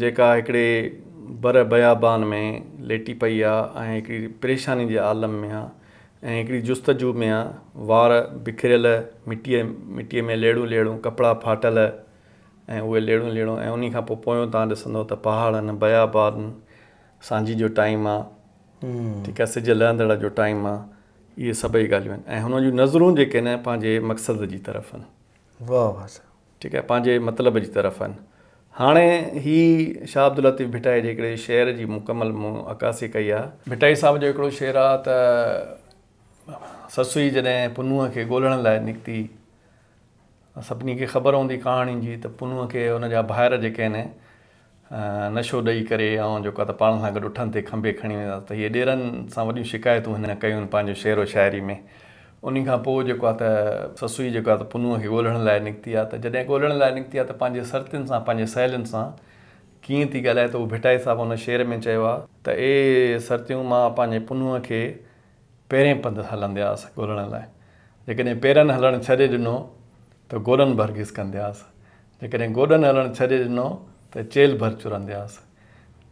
جيڪا هڪڙي بره بيابان ۾ ليٽي پئي آ ۽ هڪڙي پريشاني جي عالم ۾ آ ۽ هڪڙي جستجو ۾ آ، وار بکريل، مٽيء مٽيء ۾ ليڙون ليڙون، ڪپڙا ڦاٽل ۽ اهي ليڙون ليڙون ۽ انهي کان پوء پويون تان ڏسندو ته پهاڙن، بيابانن، سانجهي جو ٽائيم آ، ٺيڪ آ، سج لهندڙ جو ٽائيم آ، اهي سڀئي ڳالهيون آهن ۽ هن جون نظرون جيڪي آهن پنهنجي مقصد جي طرف آهن. واهه واهه صاحب. ٺيڪ آهي پنهنجي مطلب جي طرف آهن هاڻي هي شاهه عبداللطيف ڀٽائي جي هڪڙي شعر جي مڪمل مون عڪاسي ڪئي آهي. ڀٽائي صاحب جو هڪڙو شعر آهي ته سسئي جڏهن پنهونء کي ڳولڻ لاء نڪتي سڀني کي خبر هوندي ڪهاڻي جي ته پنهونء کي ان جا ڀائر جيڪي آهن نشو ڏئي ڪري آئون جيڪو آ ته پاڻ سان گڏ اٺن تي کنڀي کڻي وينداس ته هيء ڏيرن سان وڏيون شڪايتون هن ڪيون پنهنجو شعر و شاعري ۾ انهي کان پوء جيڪو آ ته سسئي جيڪو آ ته پنهونء کي ڳولڻ لاء نڪتي آ ته جڏهن ڳولڻ لاء نڪتي آ ته پنهنجي سرتين سان پنهنجي سهيلين سان ڪيئن ٿي ڳالهائي ته هو ڀٽائي صاحب ان شعر ۾ چيو آ ته اي سرتيون مان پنهنجي پنهونء کي پيرين پنڌ هلندياس ڳولڻ لاء. جيڪڏهن پيرن هلڻ ڇڏي ڏنو ته گوڏن ڀر گيس ڪندياس. جيڪڏهن گوڏن هلڻ ڇڏي ڏنو ته چيلهه ڀر چرندياس.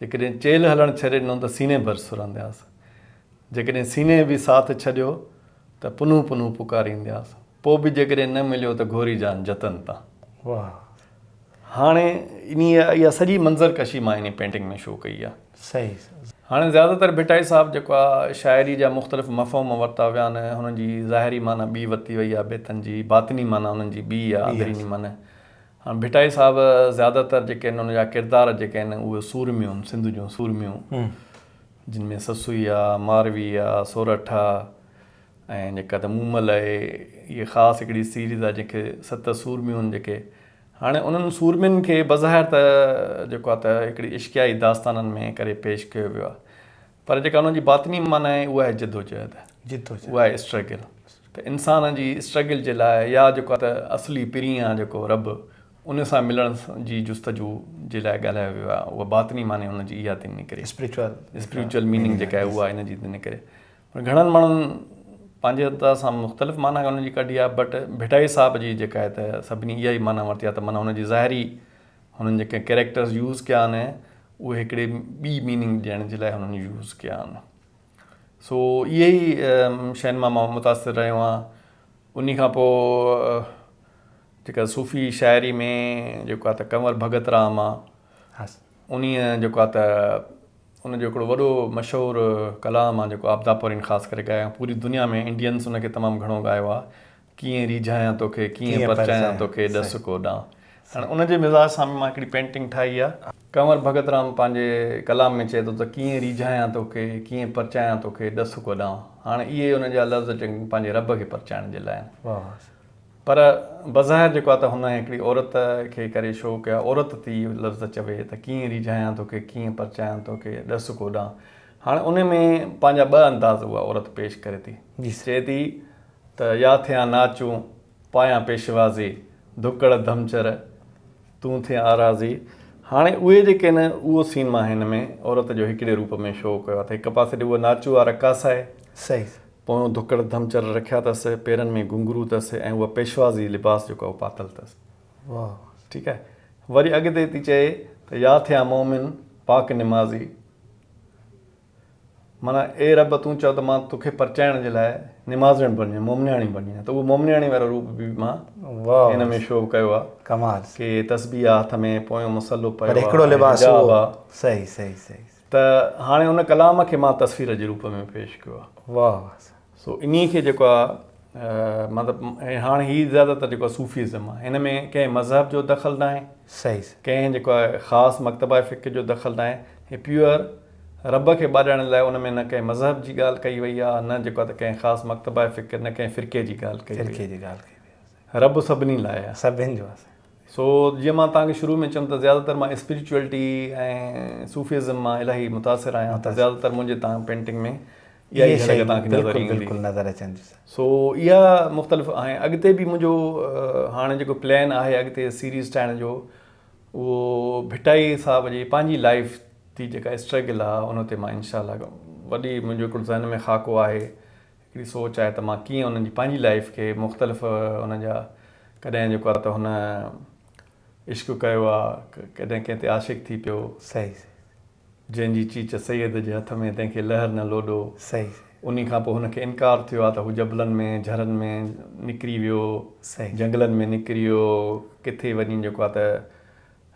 جيڪڏهن چيلهه هلڻ ڇڏي ڏنو ته سيني ڀر سرندياس. جيڪڏهن سيني به ساٿ ڇڏيو ته پنهون پنهون پڪاريندياس. پوء به جيڪڏهن نه مليو ته گهوري جان جتن تان. واهه هاڻي انهيء اها سڄي منظر ڪشي مان انهيء پينٽنگ ۾ شو ڪئي آهي. صحيح. هاڻي زياده تر ڀٽائي صاحب جيڪو آهي شاعريء جا مختلف مفهوم ورتا ويا آهن، هنن جي ظاهري معنيٰ ٻي ورتي وئي آهي بيتن جي، باطني معنيٰ انهن جي ٻي آهي، اندريني معنيٰ. هاڻي ڀٽائي صاحب زياده تر جيڪي آهن ان جا ڪردار جيڪي آهن اهي سورميون، سنڌ جون سورميون، جن ۾ سسئي آهي، ماروي آهي، سورٺ آهي، ۽ جيڪا ته مون مل آهي هيء خاص هڪڙي سيريز آهي جنهن کي ست سورميون جيڪي هاڻي انهن سورمين کي بظاهر ته جيڪو آهي ته هڪڙي عشقيائي داستانن ۾ ڪري پيش ڪيو ويو آهي پر جيڪا انهن جي باطني معنيٰ آهي اها آهي جدوجهد اها آهي اسٽرگل ته انسان جي اسٽرگل جي لاء يا جيڪو آهي ته اصلي پرينء جيڪو رب ان سان ملڻ جي جستجو جي لاء ڳالهايو ويو آهي اها باطني معني ان جي اها ٿي نڪري اسپريچوئل اسپريچوئل ميننگ جيڪا آهي اها ان جي ٿي نڪري گهڻن ماڻهن پنهنجي ادا سان مختلف معنيٰ ان جي ڪڍي آهي بٽ ڀٽائي صاحب جي جيڪا آهي ته سڀني اها ئي معنيٰ ورتي آهي ته معنيٰ ان جي ظاهري هنن جيڪي ڪيريڪٽرز يوز ڪيا آهن اهي هڪڙي ٻي ميننگ ڏيڻ جي لاء هنن يوز ڪيا آهن سو اهي ئي شين مان مان متاثر رهيو آهيان انهي کان پوء جيڪا صوفي شاعري ۾ جيڪو آهي ته ڪنور ڀڳت رام آهي انهي جيڪو آهي ته ان جو هڪڙو وڏو مشهور ڪلام آ جيڪو آبدا پورين خاص ڪري ڳايو پوري دنيا ۾ انڊينس ان کي تمام گهڻو ڳايو آ ڪيئن ريجهايان توکي ڪيئن پرچايان توکي ڏس ڪو ڏانء هاڻي ان جي مزاج سان به مان هڪڙي پينٽنگ ٺاهي آ. ڪنور ڀڳت رام پنهنجي ڪلام ۾ چئي ٿو ته ڪيئن ريجهايان توکي ڪيئن پرچايان توکي ڏس ڪو ڏانء هاڻي اهي ان جا لفظ چڱي پنهنجي رب کي پرچائڻ جي لاء آهن. پر بظاهر جيڪو آ ته هن هڪڙي عورت کي ڪري شو ڪيا عورت ٿي اهو لفظ چوي ته ڪيئن ريجهايان توکي ڪيئن پرچايان توکي ڏس ڪوڏانهن هاڻي انهي ۾ پنهنجا ٻه انداز اها عورت پيش ڪري ٿي چئي ٿي ته يا ٿيان ناچون پايان پيشوازي ڌڪڙ ڌمچر تون ٿي آرازي هاڻي اهي جيڪي آهن اهو سين مان هن ۾ عورت جو هڪڙي روپ ۾ شو ڪيو آ ته هڪ پاسي ڏي اها ناچو آ رقاص آهي صحيح پويون ڌڪڙ ڌمچر رکيا تس، پيرن ۾ گهنگرو تس ۽ اهو پيشوازي لباس جيڪو اهو پاتل تس. واهه واهه. ٺيڪ آهي. وري اڳتي ٿي چئي ته يا ٿيا مومن پاڪ نمازي. معنيٰ اي رب تون چئو ته مان توکي پرچائڻ جي لاء نمازڻ بڻجي ويم، مومنياڻي بڻجي ويم ته اهو مومنياڻي وارو روپ به مان هن ۾ شو ڪيو آهي. ڪمال. ڪي تسبيح آهي هٿ ۾، پويون مصلو پيو آهي، حجاب آهي. صحيح صحيح صحيح. ته هاڻي ان ڪلام کي مان تصوير جي روپ ۾ پيش ڪيو آهي. واهه واهه سائين. سو انهي کي جيڪو آهي مطلب ۽ هاڻ هي زياده تر جيڪو صوفيزم آهي هن ۾ ڪنهن مذهب جو دخل ناهي. صحيح صحيح. ڪنهن جيڪو آهي خاص مڪتبه فقه جو دخل ناهي هي پيور رب کي ٻاڏائڻ لاء ان ۾ نه ڪنهن مذهب جي ڳالهه ڪئي وئي آهي نه جيڪو آهي ته ڪنهن خاص مڪتبه فقه نه ڪنهن فرقي جي ڳالهه ڪئي وئي آهي. فرقي جي ڳالهه ڪئي وئي آهي. رب سڀني لاء آ. سڀن جو آ سائين. سو جيئن مان توهان کي شروع ۾ چيم ته زياده تر مان اسپريچوئلٽي ۽ صوفيزم مان الاهي متاثر آهيان ته زياده تر منهنجي تان پينٽنگ ۾ اها ئي جهلڪ توهان کي نظر ايندي. بلڪل بلڪل نظر اچن ٿيون سائين. سو اها مختلف آهن اڳتي به منهنجو هاڻي جيڪو پلان آهي اڳتي سيريز ٺاهڻ جو اهو ڀٽائي صاحب جي پنهنجي لائيف تي جيڪا اسٽرگل آ ان تي مان انشاء الله وڏي منهنجو هڪڙو ذهن ۾ خاڪو آهي هڪڙي سوچ آهي ته مان ڪيئن انهن جي پنهنجي لائيف کي مختلف انهن جا ڪڏهن جيڪو آهي ته هن عشق ڪيو آ ڪڏهن ڪنهن تي عاشق ٿي پيو. صحيح صحيح. جنهن جي چيچ سيد جي هٿ ۾ تنهن کي لهر نه لوڏو. صحيح صحيح. انهي کان پوء هن کي انڪار ٿيو آ ته هو جبلن ۾ جهرن ۾ نڪري ويو. صحيح. جهنگلن ۾ نڪريو ڪٿي وڃي جيڪو آ ته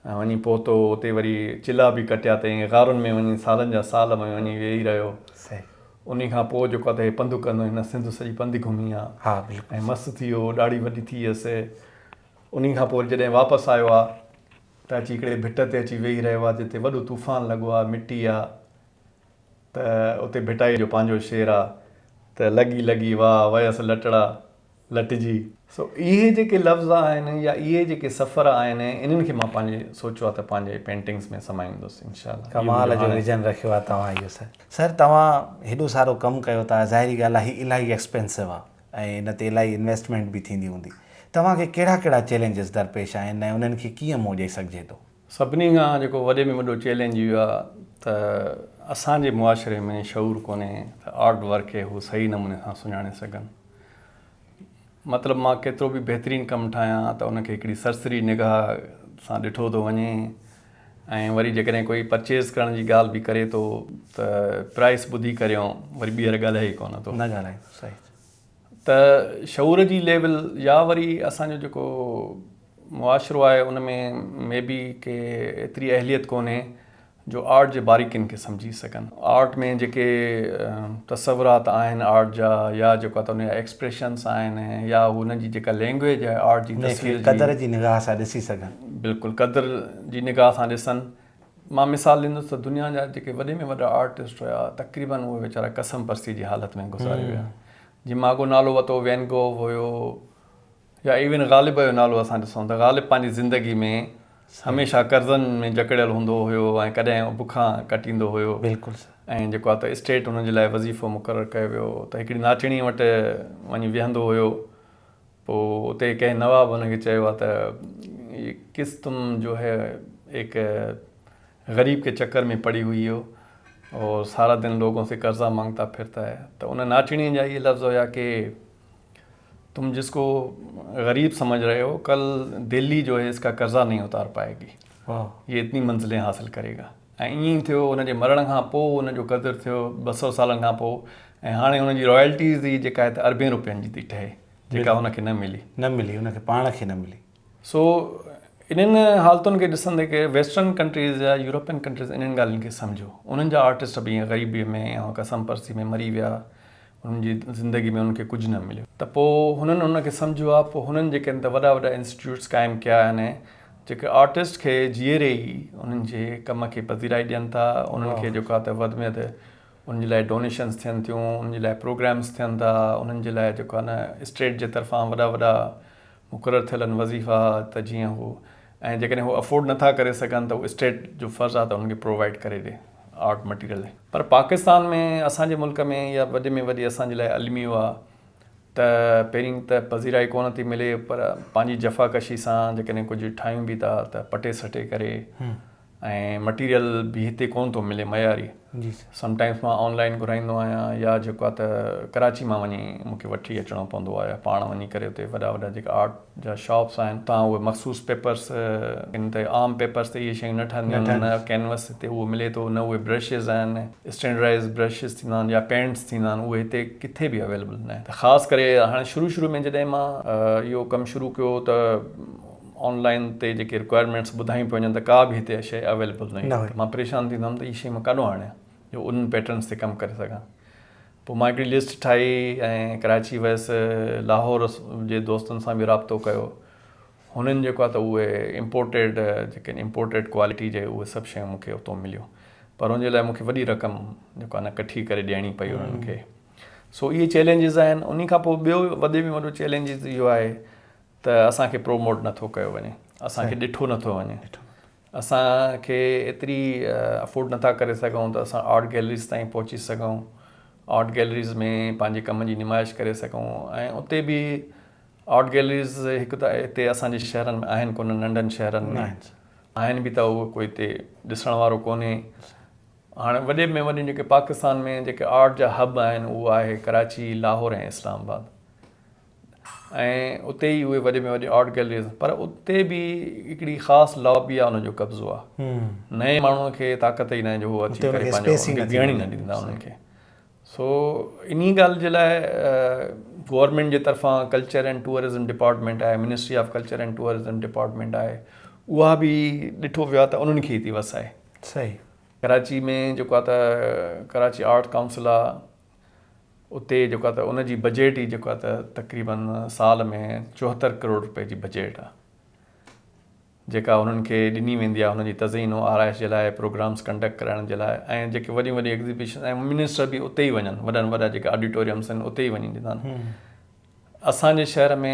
وڃي پهتو اتي وري چلها به ڪٽيا تئين غارن ۾ وڃي سالن جا سال ۾ وڃي ويهي رهيو صحيح انهي کان پوء جيڪو آ ته هي پنڌ ڪندو هن سنڌ سڄي پنڌ گهمي آ ها بلڪل ۽ مست ٿي ويو ڏاڙهي وڏي ٿي ويس انهي کان پوء جڏهن واپس آيو آ ته اچي هڪڙي ڀٽ تي اچي ويهي رهيو آ جتي وڏو طوفان لڳو آ مٽي آ ته اتي ڀٽائيء جو پنهنجو شعر آ ته لڳي لڳي واهه ويس لٽڙا لٽجي. سو اهي جيڪي لفظ آهن يا اهي جيڪي سفر آهن انهن کي مان پنهنجي سوچيو آ ته پنهنجي پينٽنگس ۾ سمائيندس انشاء الله. ڪمال جو ويزن رکيو آ توهان اهو سر. سر توهان هيڏو سارو ڪم ڪيو ٿا ظاهري ڳالهه آ هي الاهي ايڪسپينسو آ ۽ ان تي الاهي انويسٽمينٽ به ٿيندي هوندي. توهان کي ڪهڙا ڪهڙا چئلينجز درپيش آهن ۽ انهن کي ڪيئن منهن ڏئي سگهجي ٿو. سڀني کان جيڪو وڏي ۾ وڏو چئلينج اهو آهي ته اسان جي معاشري ۾ شعور ڪونهي ته آرٽ ورڪ کي هو صحيح نموني سان سڃاڻي سگهن. مطلب مان ڪيترو به بهترين ڪم ٺاهيان ته ان کي هڪڙي سرسري نگاهه سان ڏٺو ٿو وڃي ۽ وري جيڪڏهن ڪوئي پرچيز ڪرڻ جي ڳالهه به ڪري ٿو ته پرائس ٻڌي ڪريون وري ٻيهر ڳالهائي ئي ڪونه ٿو. نه ڳالهائي ٿو صحيح. ته شعور جي ليول يا وري اسان جو جيڪو معاشرو آهي ان ۾ مي بي ڪي ايتري اهليت ڪونهي جو آرٽ جي باريڪين کي سمجهي سگهن آرٽ ۾ جيڪي تصورات آهن آرٽ جا يا جيڪو ته ان جا ايڪسپريشنس آهن يا ان جي جيڪا لينگويج آهي آرٽ جي تصوير جي قدر جي نگاهه سان ڏسي سگهن بلڪل قدر جي نگاهه سان ڏسن. مان مثال ڏيندس ته دنيا جا جيڪي وڏي ۾ وڏا آرٽسٽ هيا تقريبن اهي ويچارا ڪسم پرستي جي حالت ۾ گذاري ويا جي مان اڳو نالو وتو وين گوه هيو يا ايون غالب جو نالو اسان ڏسون ته غالب پنهنجي زندگي ۾ هميشه قرضن ۾ جڪڙيل هوندو هيو ۽ ڪڏهن بکان ڪٽيندو هيو بلڪل ۽ جيڪو آهي ته اسٽيٽ هن جي لاء وظيفو مقرر ڪيو ويو ته هڪڙي ناچڻي وٽ وڃي ويهندو هيو پوء اتي ڪنهن نواب هن کي چيو ها ته، هي قص تم جو هي ايڪ غريب ڪي چڪر مين پڙي هئي هو اور سارا دن لوگون سي قرضا مانگتا ڦرتا هي. ته ان ناچڻيء جا هي لفظ هيا ڪي، تم جس ڪو غريب سمجھ رهي هو، ڪل دهلي جو هي اسڪا قرضا نهين اتار پائي گي. هي اتني منزلين حاصل ڪري گا. ۽ ائين ئي ٿيو، هن جي مرڻ کان پوء هن جو قدر ٿيو ٻه سؤ سالن کان پوء ۽ هاڻي هن جي رائلٽيز ئي جيڪا هي ته اربين روپين جي ٿي ٺهي. جيڪا هن کي نه ملي. نه ملي، هن کي پاڻ کي نه ملي. سو انهن حالتن کي ڏسندي ڪي ويسٽرن ڪنٽريز يا يورپين ڪنٽريز انهن ڳالهين کي سمجهيو. انهن جا آرٽسٽ به ائين غريبيء ۾ ۽ ڪسم پرسي ۾ مري ويا. انهن جي زندگي ۾ انهن کي ڪجهه نه مليو. ته پوء هنن ان کي سمجهيو آهي. پوء هنن جيڪن ته وڏا وڏا انسٽيٽيوٽس قائم ڪيا آهن، جيڪي آرٽسٽ کي جيئري ئي انهن جي ڪم کي پذيرائي ڏين ٿا. انهن کي جيڪا ته وڌ ۾ وڌ انهن جي لاء ڊونيشنس ٿين ٿيون، انهن جي لاء پروگرامس ٿين ٿا، انهن جي لاء جيڪو آهي نه اسٽيٽ جي طرفان وڏا وڏا مقرر ٿيل آهن وظيفا ته جيئن هو ۽ جيڪڏهن هو افورڊ نٿا ڪري سگهن ته اسٽيٽ جو فرض آهي ته انهن کي پرووائيڊ ڪري ڏي آرٽ مٽيريل. پر پاڪستان ۾ اسان جي ملڪ ۾ اها وڏي ۾ وڏي اسان جي لاء الميو آهي ته پهرين ته پذيرائي ڪونه ٿي ملي پر پنهنجي جفاڪشي سان جيڪڏهن ڪجهه ٺاهيون به ٿا ته پٽي سٽي ڪري ۽ مٽيريل به هتي ڪون ٿو ملي معياري سم ٽائمس مان آن لائين گهرائيندو آهيان يا جيڪو آهي ته ڪراچي مان وڃي مون کي وٺي اچڻو پوندو آهي يا پاڻ وڃي ڪري اتي وڏا وڏا جيڪا آرٽ جا شاپس آهن اتان اهي مخصوص پيپرس ان تي عام پيپرس تي اهي شيون نه ٺهنديون آهن نه ڪينوس هتي اهو ملي ٿو نه اهي برشز آهن اسٽينڊرائز برشز ٿيندا آهن يا پينٽس ٿيندا آهن اهي هتي ڪٿي به اويليبل نه آهن ته خاص ڪري هاڻي شروع شروع ۾ جڏهن مان اهو ڪم شروع ڪيو ته آن لائين تي جيڪي رڪوائرمينٽس ٻڌايون پيون وڃن ته ڪا به هتي شيء اويليبل نه هئي ته مان پريشان ٿيندو هيم ته هي شيء مان ڪاڏو آڻيان جو انهن پيٽرنس تي ڪم ڪري سگهان پوء مان هڪڙي لسٽ ٺاهي ۽ ڪراچي ويس لاهور جي دوستن سان به رابطو ڪيو هنن جيڪو آهي ته اهي امپورٽيڊ جيڪي امپورٽيڊ ڪوالٽي جي اهي سڀ شيون مون کي اتو مليون پر ان جي لاء مون کي وڏي رقم جيڪو آهي نه ڪٺي ڪري ڏيڻي پئي انهن کي سو اهي چئلينجز آهن انهي کان پوء ٻيو وڏي ۾ وڏو چئلينجز اهو آهي ته اسان کي پروموٽ نه ٿو ڪيو وڃي، اسان کي ڏٺو نه ٿو وڃي، اسان کي ايتري افورڊ نه ٿا ڪري سگهون ته اسان آرٽ گيلريز تائين پهچي سگهون، آرٽ گيلريز ۾ پنهنجي ڪم جي نمائش ڪري سگهون ۽ اتي به آرٽ گيلريز هڪ ته هتي اسان جي شهرن ۾ آهن ڪونه، ننڍن شهرن ۾ آهن به ته اهو ڪوئي هتي ڏسڻ وارو ڪونهي. هاڻي وڏي ۾ وڏيون جيڪي پاڪستان ۾ جيڪي آرٽ جا هب آهن اهو آهي ڪراچي، لاهور ۽ اسلام آباد. ۽ اتي ئي اهي وڏي ۾ وڏي آرٽ گيلريز پر اتي به هڪڙي خاص لابي آهي ان جو قبضو آهي نئين ماڻهو کي طاقت ئي ناهي جو هو اچي ڪري پنهنجو بيهڻ نه ڏيندا انهن کي سو انهي ڳالهه جي لاء گورنمينٽ جي طرفان ڪلچر اينڊ ٽوئرزم ڊپارٽمينٽ آهي ministry of culture and tourism department آهي اها به ڏٺو ويو آهي ته انهن کي ٿي وسائي صحيح ڪراچي ۾ جيڪو آهي ته ڪراچي آرٽ ڪائونسل آهي اتي جيڪو ته ان جي بجيٽ ئي جيڪو ته تقريبن سال ۾ چوهتر ڪروڙ روپئي جي بجيٽ آ جيڪا انهن کي ڏني ويندي آ انهن جي تزئين و آرائش جي لاء پروگرامس ڪنڊڪٽ ڪرائڻ جي لاء ۽ جيڪي وڏيون وڏيون ايگزيبيشن ۽ منسٽر به اتي ئي وڃن وڏن وڏا جيڪا آڊيٽوريمس آهن اتي ئي وڃي ڏيندا آهن اسان جي شهر ۾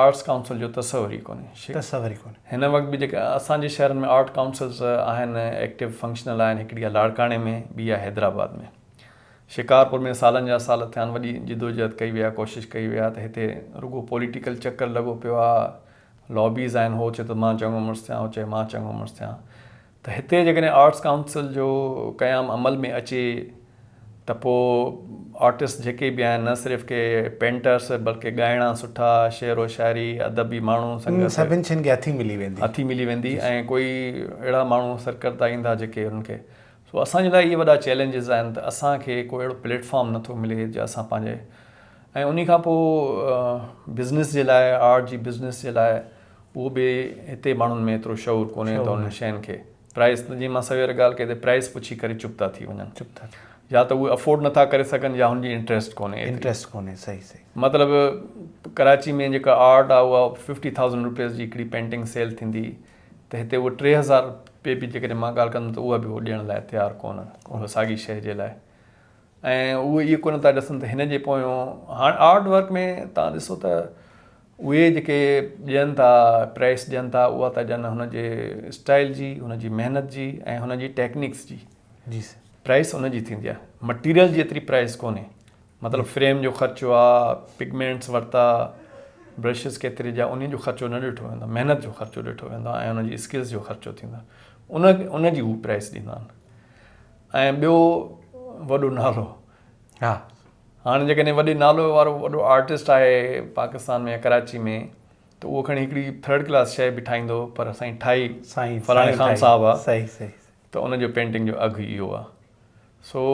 آرٽس ڪائونسل جو تصور ئي ڪونهي. هن وقت به جيڪي اسان جي شهرن ۾ آرٽ ڪائونسلز آهن ايڪٽو فنڪشنل آهن هڪڙي آهي لاڙڪاڻي ۾ ٻي آهي حيدرآباد ۾ شڪارپور ۾ سالن جا سال ٿيان وڏي جدوجهد ڪئي وئي آهي ڪوشش ڪئي وئي آهي ته هتي رڳو پوليٽيڪل چڪر لڳو پيو آهي لابيز آهن هو چي ٿو مان چڱو مڙس ٿيان هو چي مان چڱو مڙس ٿيان ته هتي جيڪڏهن آرٽس ڪائونسل جو قيام عمل ۾ اچي ته پوء آرٽسٽ جيڪي به آهن نه صرف ڪي پينٽرس بلڪه ڳائڻا سٺا شعر و شاعري ادبي ماڻهو سنگت سڀن شين کي هٿي ملي ويندي هٿي ملي ويندي ۽ ڪوئي اهڙا ماڻهو سرڪردا ايندا جيڪي انهن کي سو اسان جي لاء اهي وڏا چئلينجز آهن ته اسان کي ڪو اهڙو پليٽ فارم نه ٿو ملي جو اسان پنهنجي ۽ انهي کان پوء بزنس جي لاء آرٽ جي بزنس جي لاء اهو به هتي ماڻهن ۾ ايترو شعور ڪونهي ته انهن شين کي پرائس جيئن مان سوير ڳالهه ڪئي ته پرائس پڇي ڪري چپ ٿا ٿي وڃن يا ته اهي افورڊ نٿا ڪري سگهن يا هن جي انٽريسٽ ڪونهي ايتري مطلب ڪراچي ۾ جيڪا آرٽ آهي اها ففٽي ٿائوزنڊ روپيز جي هڪڙي پينٽنگ سيل ٿيندي ته هتي اهو ٽي هزار روپيه به جيڪڏهن مان ڳالهه ڪندم ته اها به هو ڏيڻ لاء تيار ڪونهن اها ساڳي شيء جي لاء ۽ اهي اهو ڪونه ٿا ڏسن ته هن جي پويان هاڻ آرٽ ورڪ ۾ تان ڏسو ته اهي جيڪي ڏين ٿا پريس ڏين ٿا اها ته ڏين هن جي اسٽائل جي هن جي محنت جي ۽ هن جي ٽيڪنڪس جي جي سر پريس ان جي ٿيندي آهي مٽيريل جي ايتري پريس ڪونهي مطلب فريم جو خرچو آ پگمينٽس ورتا برشز ڪيتري جا انهن جو خرچو نه ڏٺو ويندو محنت جو خرچو ڏٺو ويندو آهي ۽ ان جي اسڪلز جو خرچو ٿيندو ان ان جي هو پريس ڏيندا آهن ۽ ٻيو وڏو نالو ها هاڻ جيڪڏهن وڏي نالو وارو وڏو آرٽسٽ آهي پاڪستان ۾ يا ڪراچي ۾ ته اهو کڻي هڪڙي ٿرڊ ڪلاس شيء به ٺاهيندو پر سائين ٺاهي فلاڻي خان صاحب آ ته ان جو پينٽنگ جو اگهه اهو آ سو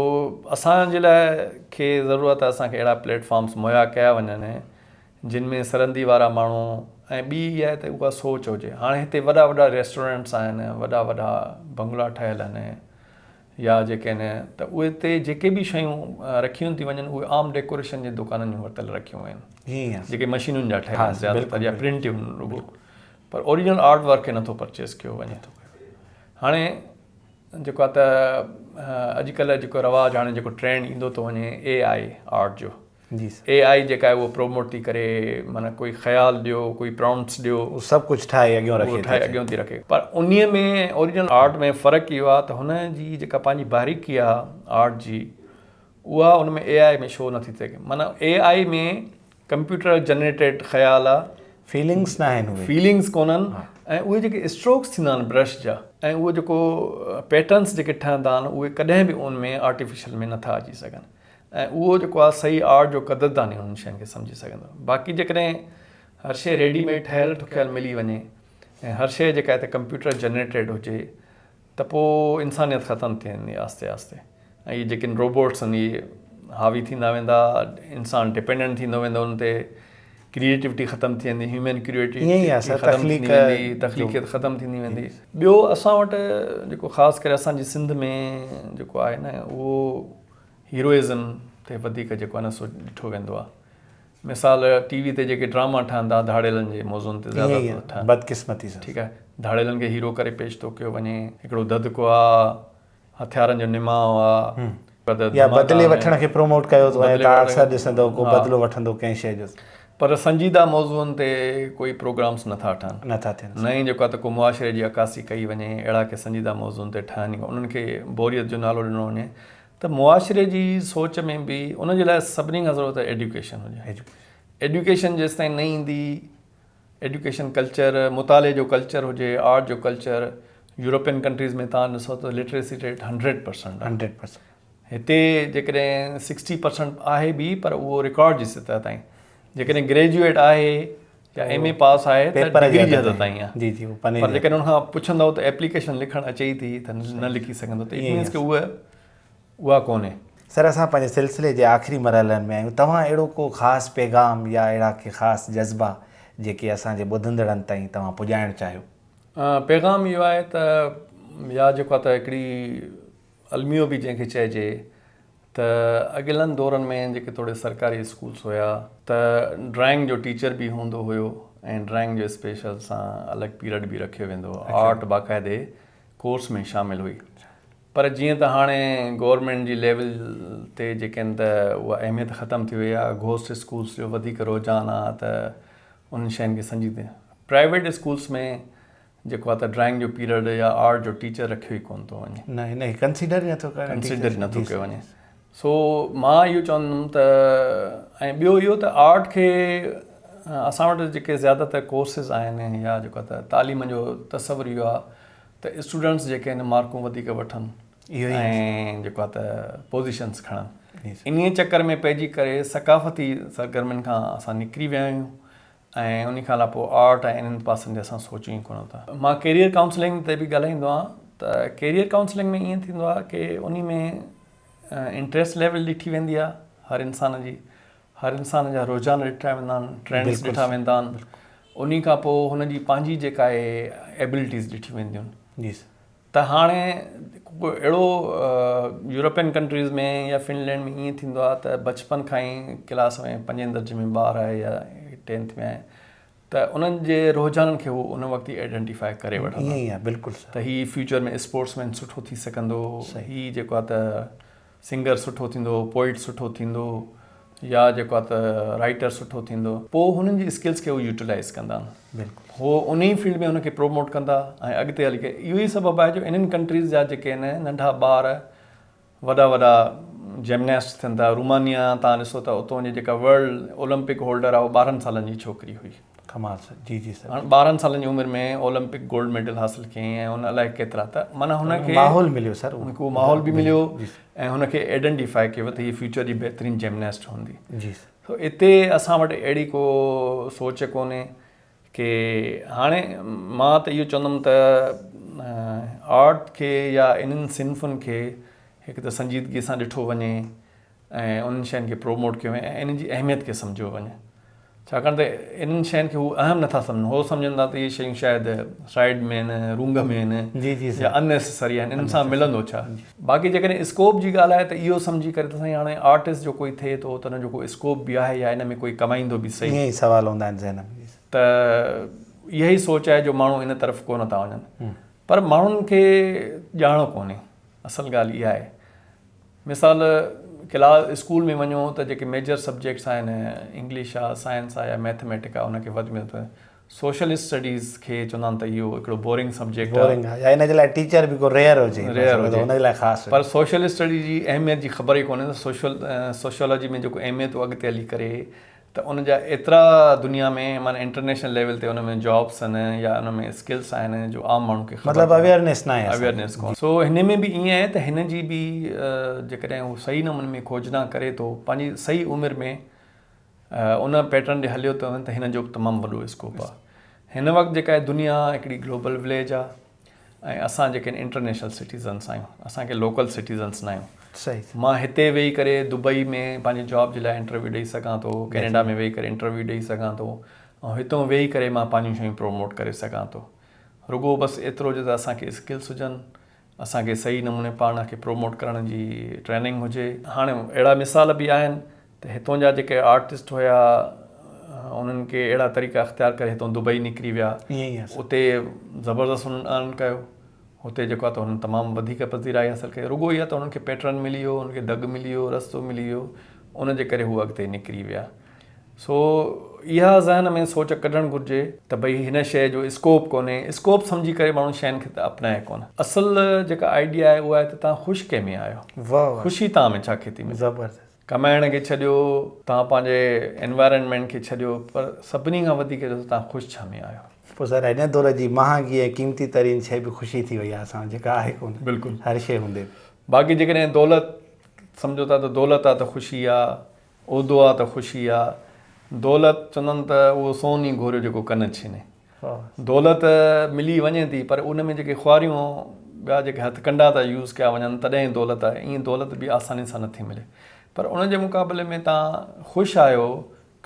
اسان جي لاء کي ضرورت آ اسان کي اهڙا پليٽ فارمس مهيا ڪيا وڃن جن ۾ سرندي وارا ماڻهو ۽ ٻي اها آهي ته اها سوچ هجي هاڻ هتي وڏا وڏا ريسٽورنٽس آهن وڏا وڏا بنگلا ٺهيل آهن يا جيڪي نه ته اتي جيڪي به شيون رکيون ٿي وڃن اهي عام ڊيڪوريشن جي دڪانن جون ورتل رکيون ويون آهن جيڪي مشينن جا ٺهيل آهن زيادو تر يا پرنٽ آهن رڳو پر اوريجنل آرٽ ورڪ کي نٿو پرچيز ڪيو وڃي هاڻي جيڪو آهي ته اڄڪلهه جيڪو رواج هاڻي جيڪو ٽرينڊ ايندو ٿو وڃي اي آئي آرٽ جو جي سر. اي آئي جيڪا آهي اهو پروموٽ ٿي ڪري معنيٰ ڪوئي خيال ڏيو ڪوئي پرامپٽس ڏيو. هو سڀ ڪجهه ٺاهي اڳيون رکي ٿي. ٺاهي اڳيون ٿي رکي پر انهي ۾ اوريجنل آرٽ ۾ فرق اهو آهي ته هن جي جيڪا پنهنجي باريڪي آهي آرٽ جي اها ان ۾ اي آئي ۾ شو نه ٿي ٿئي معنيٰ اي آئي ۾ ڪمپيوٽر جنريٽيڊ خيال آهي. فيلنگس نه آهن اهي. فيلنگس ڪونهن ۽ اهي جيڪي اسٽروڪس ٿيندا آهن برش جا ۽ اهو جيڪو پيٽرنس جيڪي ٺهندا آهن اهي ڪڏهن به ان ۾ آرٽيفيشل ۾ نه ٿا اچي سگهن. ۽ اهو جيڪو آهي صحيح آرٽ جو قدردان ئي انهن شين کي سمجهي سگهندو. باقي جيڪڏهن هر شيء ريڊي ميڊ ٺهيل ٺڪيل ملي وڃي ۽ هر شيء جيڪا هتي ڪمپيوٽر جنريٽيڊ هجي ته پوء انسانيت ختم ٿي ويندي آهستي آهستي ۽ اهي جيڪي روبوٽس آهن اهي حاوي ٿيندا ويندا انسان ڊپينڊنٽ ٿيندو ويندو انهن تي ڪريئيٽوٽي ختم ٿي ويندي هيومن ڪريئيٽوٽي ختم ٿيندي ويندي تخليقيت ختم ٿيندي ويندي. ٻيو اسان وٽ جيڪو خاص ڪري اسان جي سنڌ ۾ جيڪو آهي نه اهو هيروئزم تي وڌيڪ جيڪو آهي نه سو ڏٺو ويندو آهي مثال ٽي وي تي جيڪي ڊراما ٺهندا آهي ڌاڙيلن جي موضوعن تي زياده تر ٺهندا بدقسمتي سان ٺيڪ آهي ڌاڙيلن کي هيرو ڪري پيش ٿو ڪيو وڃي هڪڙو دڌڪو آ هٿيارن جو نماء آ يا بدلي وٺڻ کي پروموٽ ڪيو ٿو وڃي تان اڪثر ڏسندو ڪو بدلو وٺندو ڪنهن شيء جو پر سنجيده موضوعن تي ڪوئي پروگرامس نه ٿا ٺهن. نه ٿا ٿين. نه ئي جيڪو آهي ته ڪو معاشري جي عڪاسي ڪئي وڃي. اهڙا ڪي سنجيده موضوعن تي ٺهن ئي ڪونه. انهن کي بوريت جو نالو ڏنو وڃي ته معاشري جي سوچ ۾ به ان جي لاء سڀني کان ضرورت آهي ايڊيوڪيشن هجي. ايڊيوڪيشن جيستائين نه ايندي، ايڊيوڪيشن ڪلچر، مطالعي جو ڪلچر هجي، آرٽ جو ڪلچر، يورپين ڪنٽريز ۾ توهان ڏسو ته لٽريسي ريٽ هنڊريڊ پرسنٽ آهي. هتي جيڪڏهن سڪسٽي پرسنٽ آهي به پر اهو رڪارڊ جي سطح تائين جيڪڏهن گريجوئيٽ آهي يا ايم اي پاس آهي ته ڊگري جي حد تائين آهي جي جي پر جيڪڏهن ان کان پڇندو ته ايپليڪيشن لکڻ اچي ئي ٿي ته نه لکي سگهندو ته ايم ايز کي اهو اها ڪونهي سر اسان پنهنجي سلسلي جي آخري مرحلن ۾ آهيون توهان اهڙو ڪو خاص پيغام يا اهڙا ڪي خاص جذبا جيڪي اسان جي ٻڌندڙن تائين توهان پڄائڻ چاهيو پيغام اهو آهي ته يا جيڪو ته هڪڙي الميو به جنهن کي چئجي ته اڳيلن دورن ۾ جيڪي توڙي سرڪاري اسڪولس هيا ته ڊرائنگ جو ٽيچر به هوندو هيو ۽ ڊرائنگ جو اسپيشل سان الڳ پيرڊ به رکيو ويندو هو آرٽ باقاعدي ڪورس ۾ شامل هئي پر جيئن ته هاڻي گورنمينٽ جي ليول تي جيڪي آهن ته اها اهميت ختم ٿي وئي آهي گهوسٽ اسڪولس جو وڌيڪ رجحان آهي ته انهن شين کي سنجيده پرائيويٽ اسڪولس ۾ جيڪو آ ته ڊرائنگ جو پيريڊ يا آرٽ جو ٽيچر رکيو ئي ڪونه ٿو وڃي. نه هن کي ڪنسيڊر ئي نه ٿو ڪرڻ. ڪنسيڊر ئي نه ٿو ڪيو وڃي. سو مان اهو چوندم ته ۽ ٻيو اهو ته آرٽ کي اسان وٽ جيڪي زياده تر ڪورسز آهن يا جيڪو آ ته تعليم جو تصور اهو آ ته اسٽوڊنٽس جيڪي آهن مارڪون وڌيڪ وٺن ۽ جيڪو آ ته پوزيشنز کڻن. انهيء چڪر ۾ پئجي ڪري ثقافتي سرگرمين کان اسان نڪري ويا آهيون ۽ انهي کان علاوه آرٽ ۽ انهن پاسن تي اسان سوچون ئي ڪونه ٿا. مان ڪيريئر ڪائونسلنگ تي به ڳالهائيندو آهيان ته ڪيريئر ڪائونسلنگ ۾ ائين ٿيندو آهي ڪي انهي ۾ انٽريسٽ ليول ڏٺي ويندي آهي هر انسان جي هر انسان جا رجحان ڏٺا ويندا آهن ٽرينڊس ڏٺا ويندا آهن انهي کان پوء هن جي پنهنجي جيڪا اهي ايبلٽيز ڏٺيون وينديون آهن ته هاڻي ڪو اهڙو يورپين ڪنٽريز ۾ يا فنلينڊ ۾ ائين ٿيندو آهي ته بچپن کان ئي ڪلاس ۾ پنجين درجي ۾ ٻار آهي يا ٽينٿ ۾ آهي ته انهن جي رجحانن کي هو ان وقت ئي آئيڊينٽيفائي ڪري وٺندا ته هي فيوچر ۾ اسپورٽس مين سٺو ٿي سگهندو هي جيڪو آهي ته سنگر سٺو ٿيندو، پوئٽ سٺو ٿيندو يا جيڪو آهي ته رائيٽر سٺو ٿيندو. پوء هنن جي اسڪلز کي هو يوٽيلائيز ڪندا. بلڪل. هو ان ئي فيلڊ ۾ هن کي پروموٽ ڪندا ۽ اڳتي هلي ڪري اهو ئي سبب آهي جو انهن ڪنٽريز جا جيڪي آهن ننڍا ٻار وڏا وڏا جمناسٽ ٿين ٿا. رومانيا تان ڏسو ته اتون جي جيڪا ورلڊ اولمپڪ هولڊر آهي اهو ٻارهن سالن جي ڇوڪري هئي. ڪماس، جي جي سر. هن ٻارهن سالن جي عمر ۾ اولمپڪ گولڊ ميڊل حاصل ڪيائين ۽ هن الائي ڪيترا ته معنيٰ هن کي ماحول مليو سر هن کي اهو ماحول به مليو ۽ هن کي ايڊنٽيفائي ڪيو ويو ته هيء فيوچر جي بهترين جمناسٽ هوندي جي سر سو اتي اسان وٽ اهڙي ڪو سوچ ڪونهي ڪي هاڻي مان ته اهو چوندم ته آرٽ کي يا انهن صنفن کي هڪ ته سنجيدگي سان ڏٺو وڃي ۽ انهن شين کي پروموٽ ڪيو وڃي ۽ انهن جي اهميت کي سمجهيو وڃي ڇاڪاڻ ته انهن شين کي هو اهم نٿا سمجهن هو سمجهن ٿا ته اهي شيون شايد سائيڊ ۾ آهن رونگ ۾ آهن يا ان نيسيسري آهن انهن سان ملندو ڇا باقي جيڪڏهن اسڪوپ جي ڳالهه آهي ته اهو سمجهي ڪري ته سائين هاڻي آرٽسٽ جو ڪوئي ٿئي ٿو ته ان جو ڪو اسڪوپ به آهي يا ان ۾ ڪوئي ڪمائيندو به سهي اهي سوال هوندا آهن ذهن ۾ ته اها ئي سوچ آهي جو ماڻهو ان طرف ڪونه ٿا وڃن پر ماڻهن کي ڄاڻ ڪونهي اصل ڳالهه اها آهي مثال ڪلاس اسڪول ۾ وڃو ته جيڪي ميجر سبجيڪٽس آهن انگلش آ سائنس آ يا ميٿميٽڪ آ ان کي وڌ ۾ وڌ سوشل اسٽڊيز کي چوندا آهن ته اهو هڪڙو بورنگ سبجيڪٽ آ بورنگ آ يا ان جي لاء ٽيچر به ڪو ريئر هجي ريئر هجي ان جي لاء خاص هجي پر سوشل اسٽڊيز جي اهميت جي خبر ئي ڪونهي ته سوشل سوشيالاجي ۾ جيڪو اهميت اڳتي هلي ڪري ته ان جا ايترا دنيا ۾ معنيٰ انٽرنيشنل ليول تي ان ۾ جابس آهن يا ان ۾ اسڪلس آهن جو عام ماڻهو کي خبر مطلب اويئرنيس ناهي اسان کي اويئرنيس ڪونهي سو هن ۾ به ائين آهي ته هن جي به جيڪڏهن هو صحيح نموني ۾ کوجنا ڪري ٿو پنهنجي صحيح عمر ۾ ان پيٽرن ڏي هليو ته هن جو به تمام وڏو اسڪوپ آهي هن وقت جيڪا دنيا هڪڙي گلوبل وليج آهي ۽ اسان جيڪي انٽرنيشنل سٽيزنس آهيون اسان ڪي لوڪل سٽيزنس ناهيون صحيح مان هتي ويهي ڪري دبئي ۾ پنهنجي جاب جي لاء انٽرويو ڏيئي سگهان ٿو ڪينيڊا ۾ ويهي ڪري انٽرويو ڏيئي سگهان ٿو ۽ هتون ويهي ڪري مان پنهنجون شيون پروموٽ ڪري سگهان ٿو رڳو بس ايترو جو ته اسان کي اسڪلس هجن اسان کي صحيح نموني پاڻ کي پروموٽ ڪرڻ جي ٽريننگ هجي هاڻي اهڙا مثال به آهن ته هتون جا جيڪي آرٽسٽ هيا انهن ڪي اهڙا طريقا اختيار ڪري هتون دبئي نڪري ويا اتي زبردست انهن ارن ڪيو هتي جيڪو آهي ته انهن تمام وڌيڪ پذيرائي حاصل ڪئي رڳو اها ته انهن کي پيٽرن ملي ويو انهن کي دڳ ملي ويو رستو ملي ويو ان جي ڪري هو اڳتي نڪري ويا سو اها ذهن ۾ سوچ ڪڍڻ گهرجي ته ڀئي هن شيء جو اسڪوپ ڪونهي اسڪوپ سمجهي ڪري ماڻهو شين کي ته اپنائي ڪونه اصل جيڪا آئيڊيا آهي اها آهي ته تان خوش ڪنهن ۾ آهيو خوشي تان ۾ ڇا کيتي ۾ زبردست ڪمائڻ کي ڇڏيو، توهان پنهنجي Environment کي ڇڏيو پر سڀني کان وڌيڪ جو توهان خوش ڇا ۾ آهيو؟ پوء ظاهر آهي هن دور جي مهانگي ۽ قيمتي ترين شيء به خوشي ٿي وئي آهي اسان وٽ جيڪا آهي ڪونه بلڪل هر شيء هوندي به. باقي جيڪڏهن دولت سمجهو ٿا ته دولت آ ته خوشي آ، عهدو آ ته خوشي آ، دولت چوندن ته اهو سون ئي گهوريو جيڪو ڪن ڇيني. دولت ملي وڃي ٿي پر ان ۾ جيڪي خواريون ٻيا جيڪي هٿڪنڊا ٿا يوز ڪيا وڃن تڏهن ئي دولت آهي ائين دولت به آساني سان نٿي ملي پر ان جي مقابلي ۾ تان خوش آهيو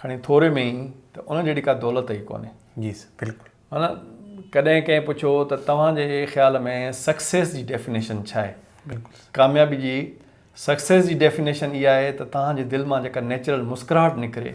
کڻي ٿوري ۾ ئي ته ان جهڙي ڪا دولت ئي ڪونهي جي سر بلڪل معنيٰ ڪڏهن ڪنهن پڇيو ته توهان جي خيال ۾ سڪسيس جي ڊيفينيشن ڇا آهي بلڪل ڪاميابي جي سڪسيس جي ڊيفينيشن اها آهي ته توهان جي دل مان جيڪا نيچرل مسڪراهٽ نڪري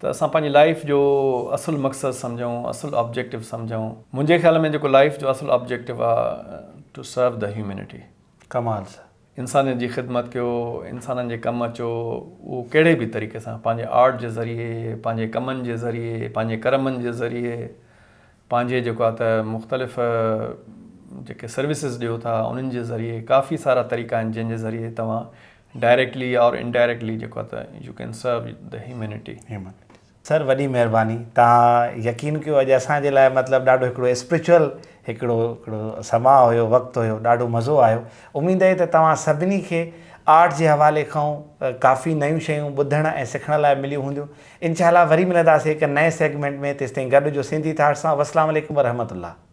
ته اسان پنهنجي لائيف جو اصل مقصد سمجهون اصل آبجيڪٽو سمجهون منهنجي خيال ۾ جيڪو لائيف جو اصل آبجيڪٽو آ ٽو سرو دي هيومينٽي ڪمال سر انسانيت جي خدمت ڪيو انسانن جي ڪم اچو اهو ڪهڙي به طريقي سان پنهنجي آرٽ جي ذريعي پنهنجي ڪمن جي ذريعي پنهنجي ڪرمن جي ذريعي پنهنجي جيڪو آ ته مختلف جيڪي سروسز ڏيو ٿا انهن جي ذريعي ڪافي سارا طريقا آهن جنهن جي ذريعي توهان ڊائريڪٽلي اور انڊائريڪٽلي جيڪو آهي ته يو ڪين سرو دي هيومينٽي. سر وڏي مهرباني توهان يقين ڪيو اڄ اسان جي لاء مطلب ڏاڍو هڪڙو اسپريچوئل هڪڙو هڪڙو سماء هيو وقت هيو ڏاڍو مزو آيو اميد اهي ته توهان سڀني کي آرٽ جي حوالي کانئون ڪافي نيون شيون ٻڌڻ ۽ سکڻ لاء مليون هونديون انشاء الله وري ملنداسي هڪ نئين سيگمينٽ ۾ تيستائين گڏ هجو سنڌي ٿاٽ سان والسلام عليڪم ورحمة الله.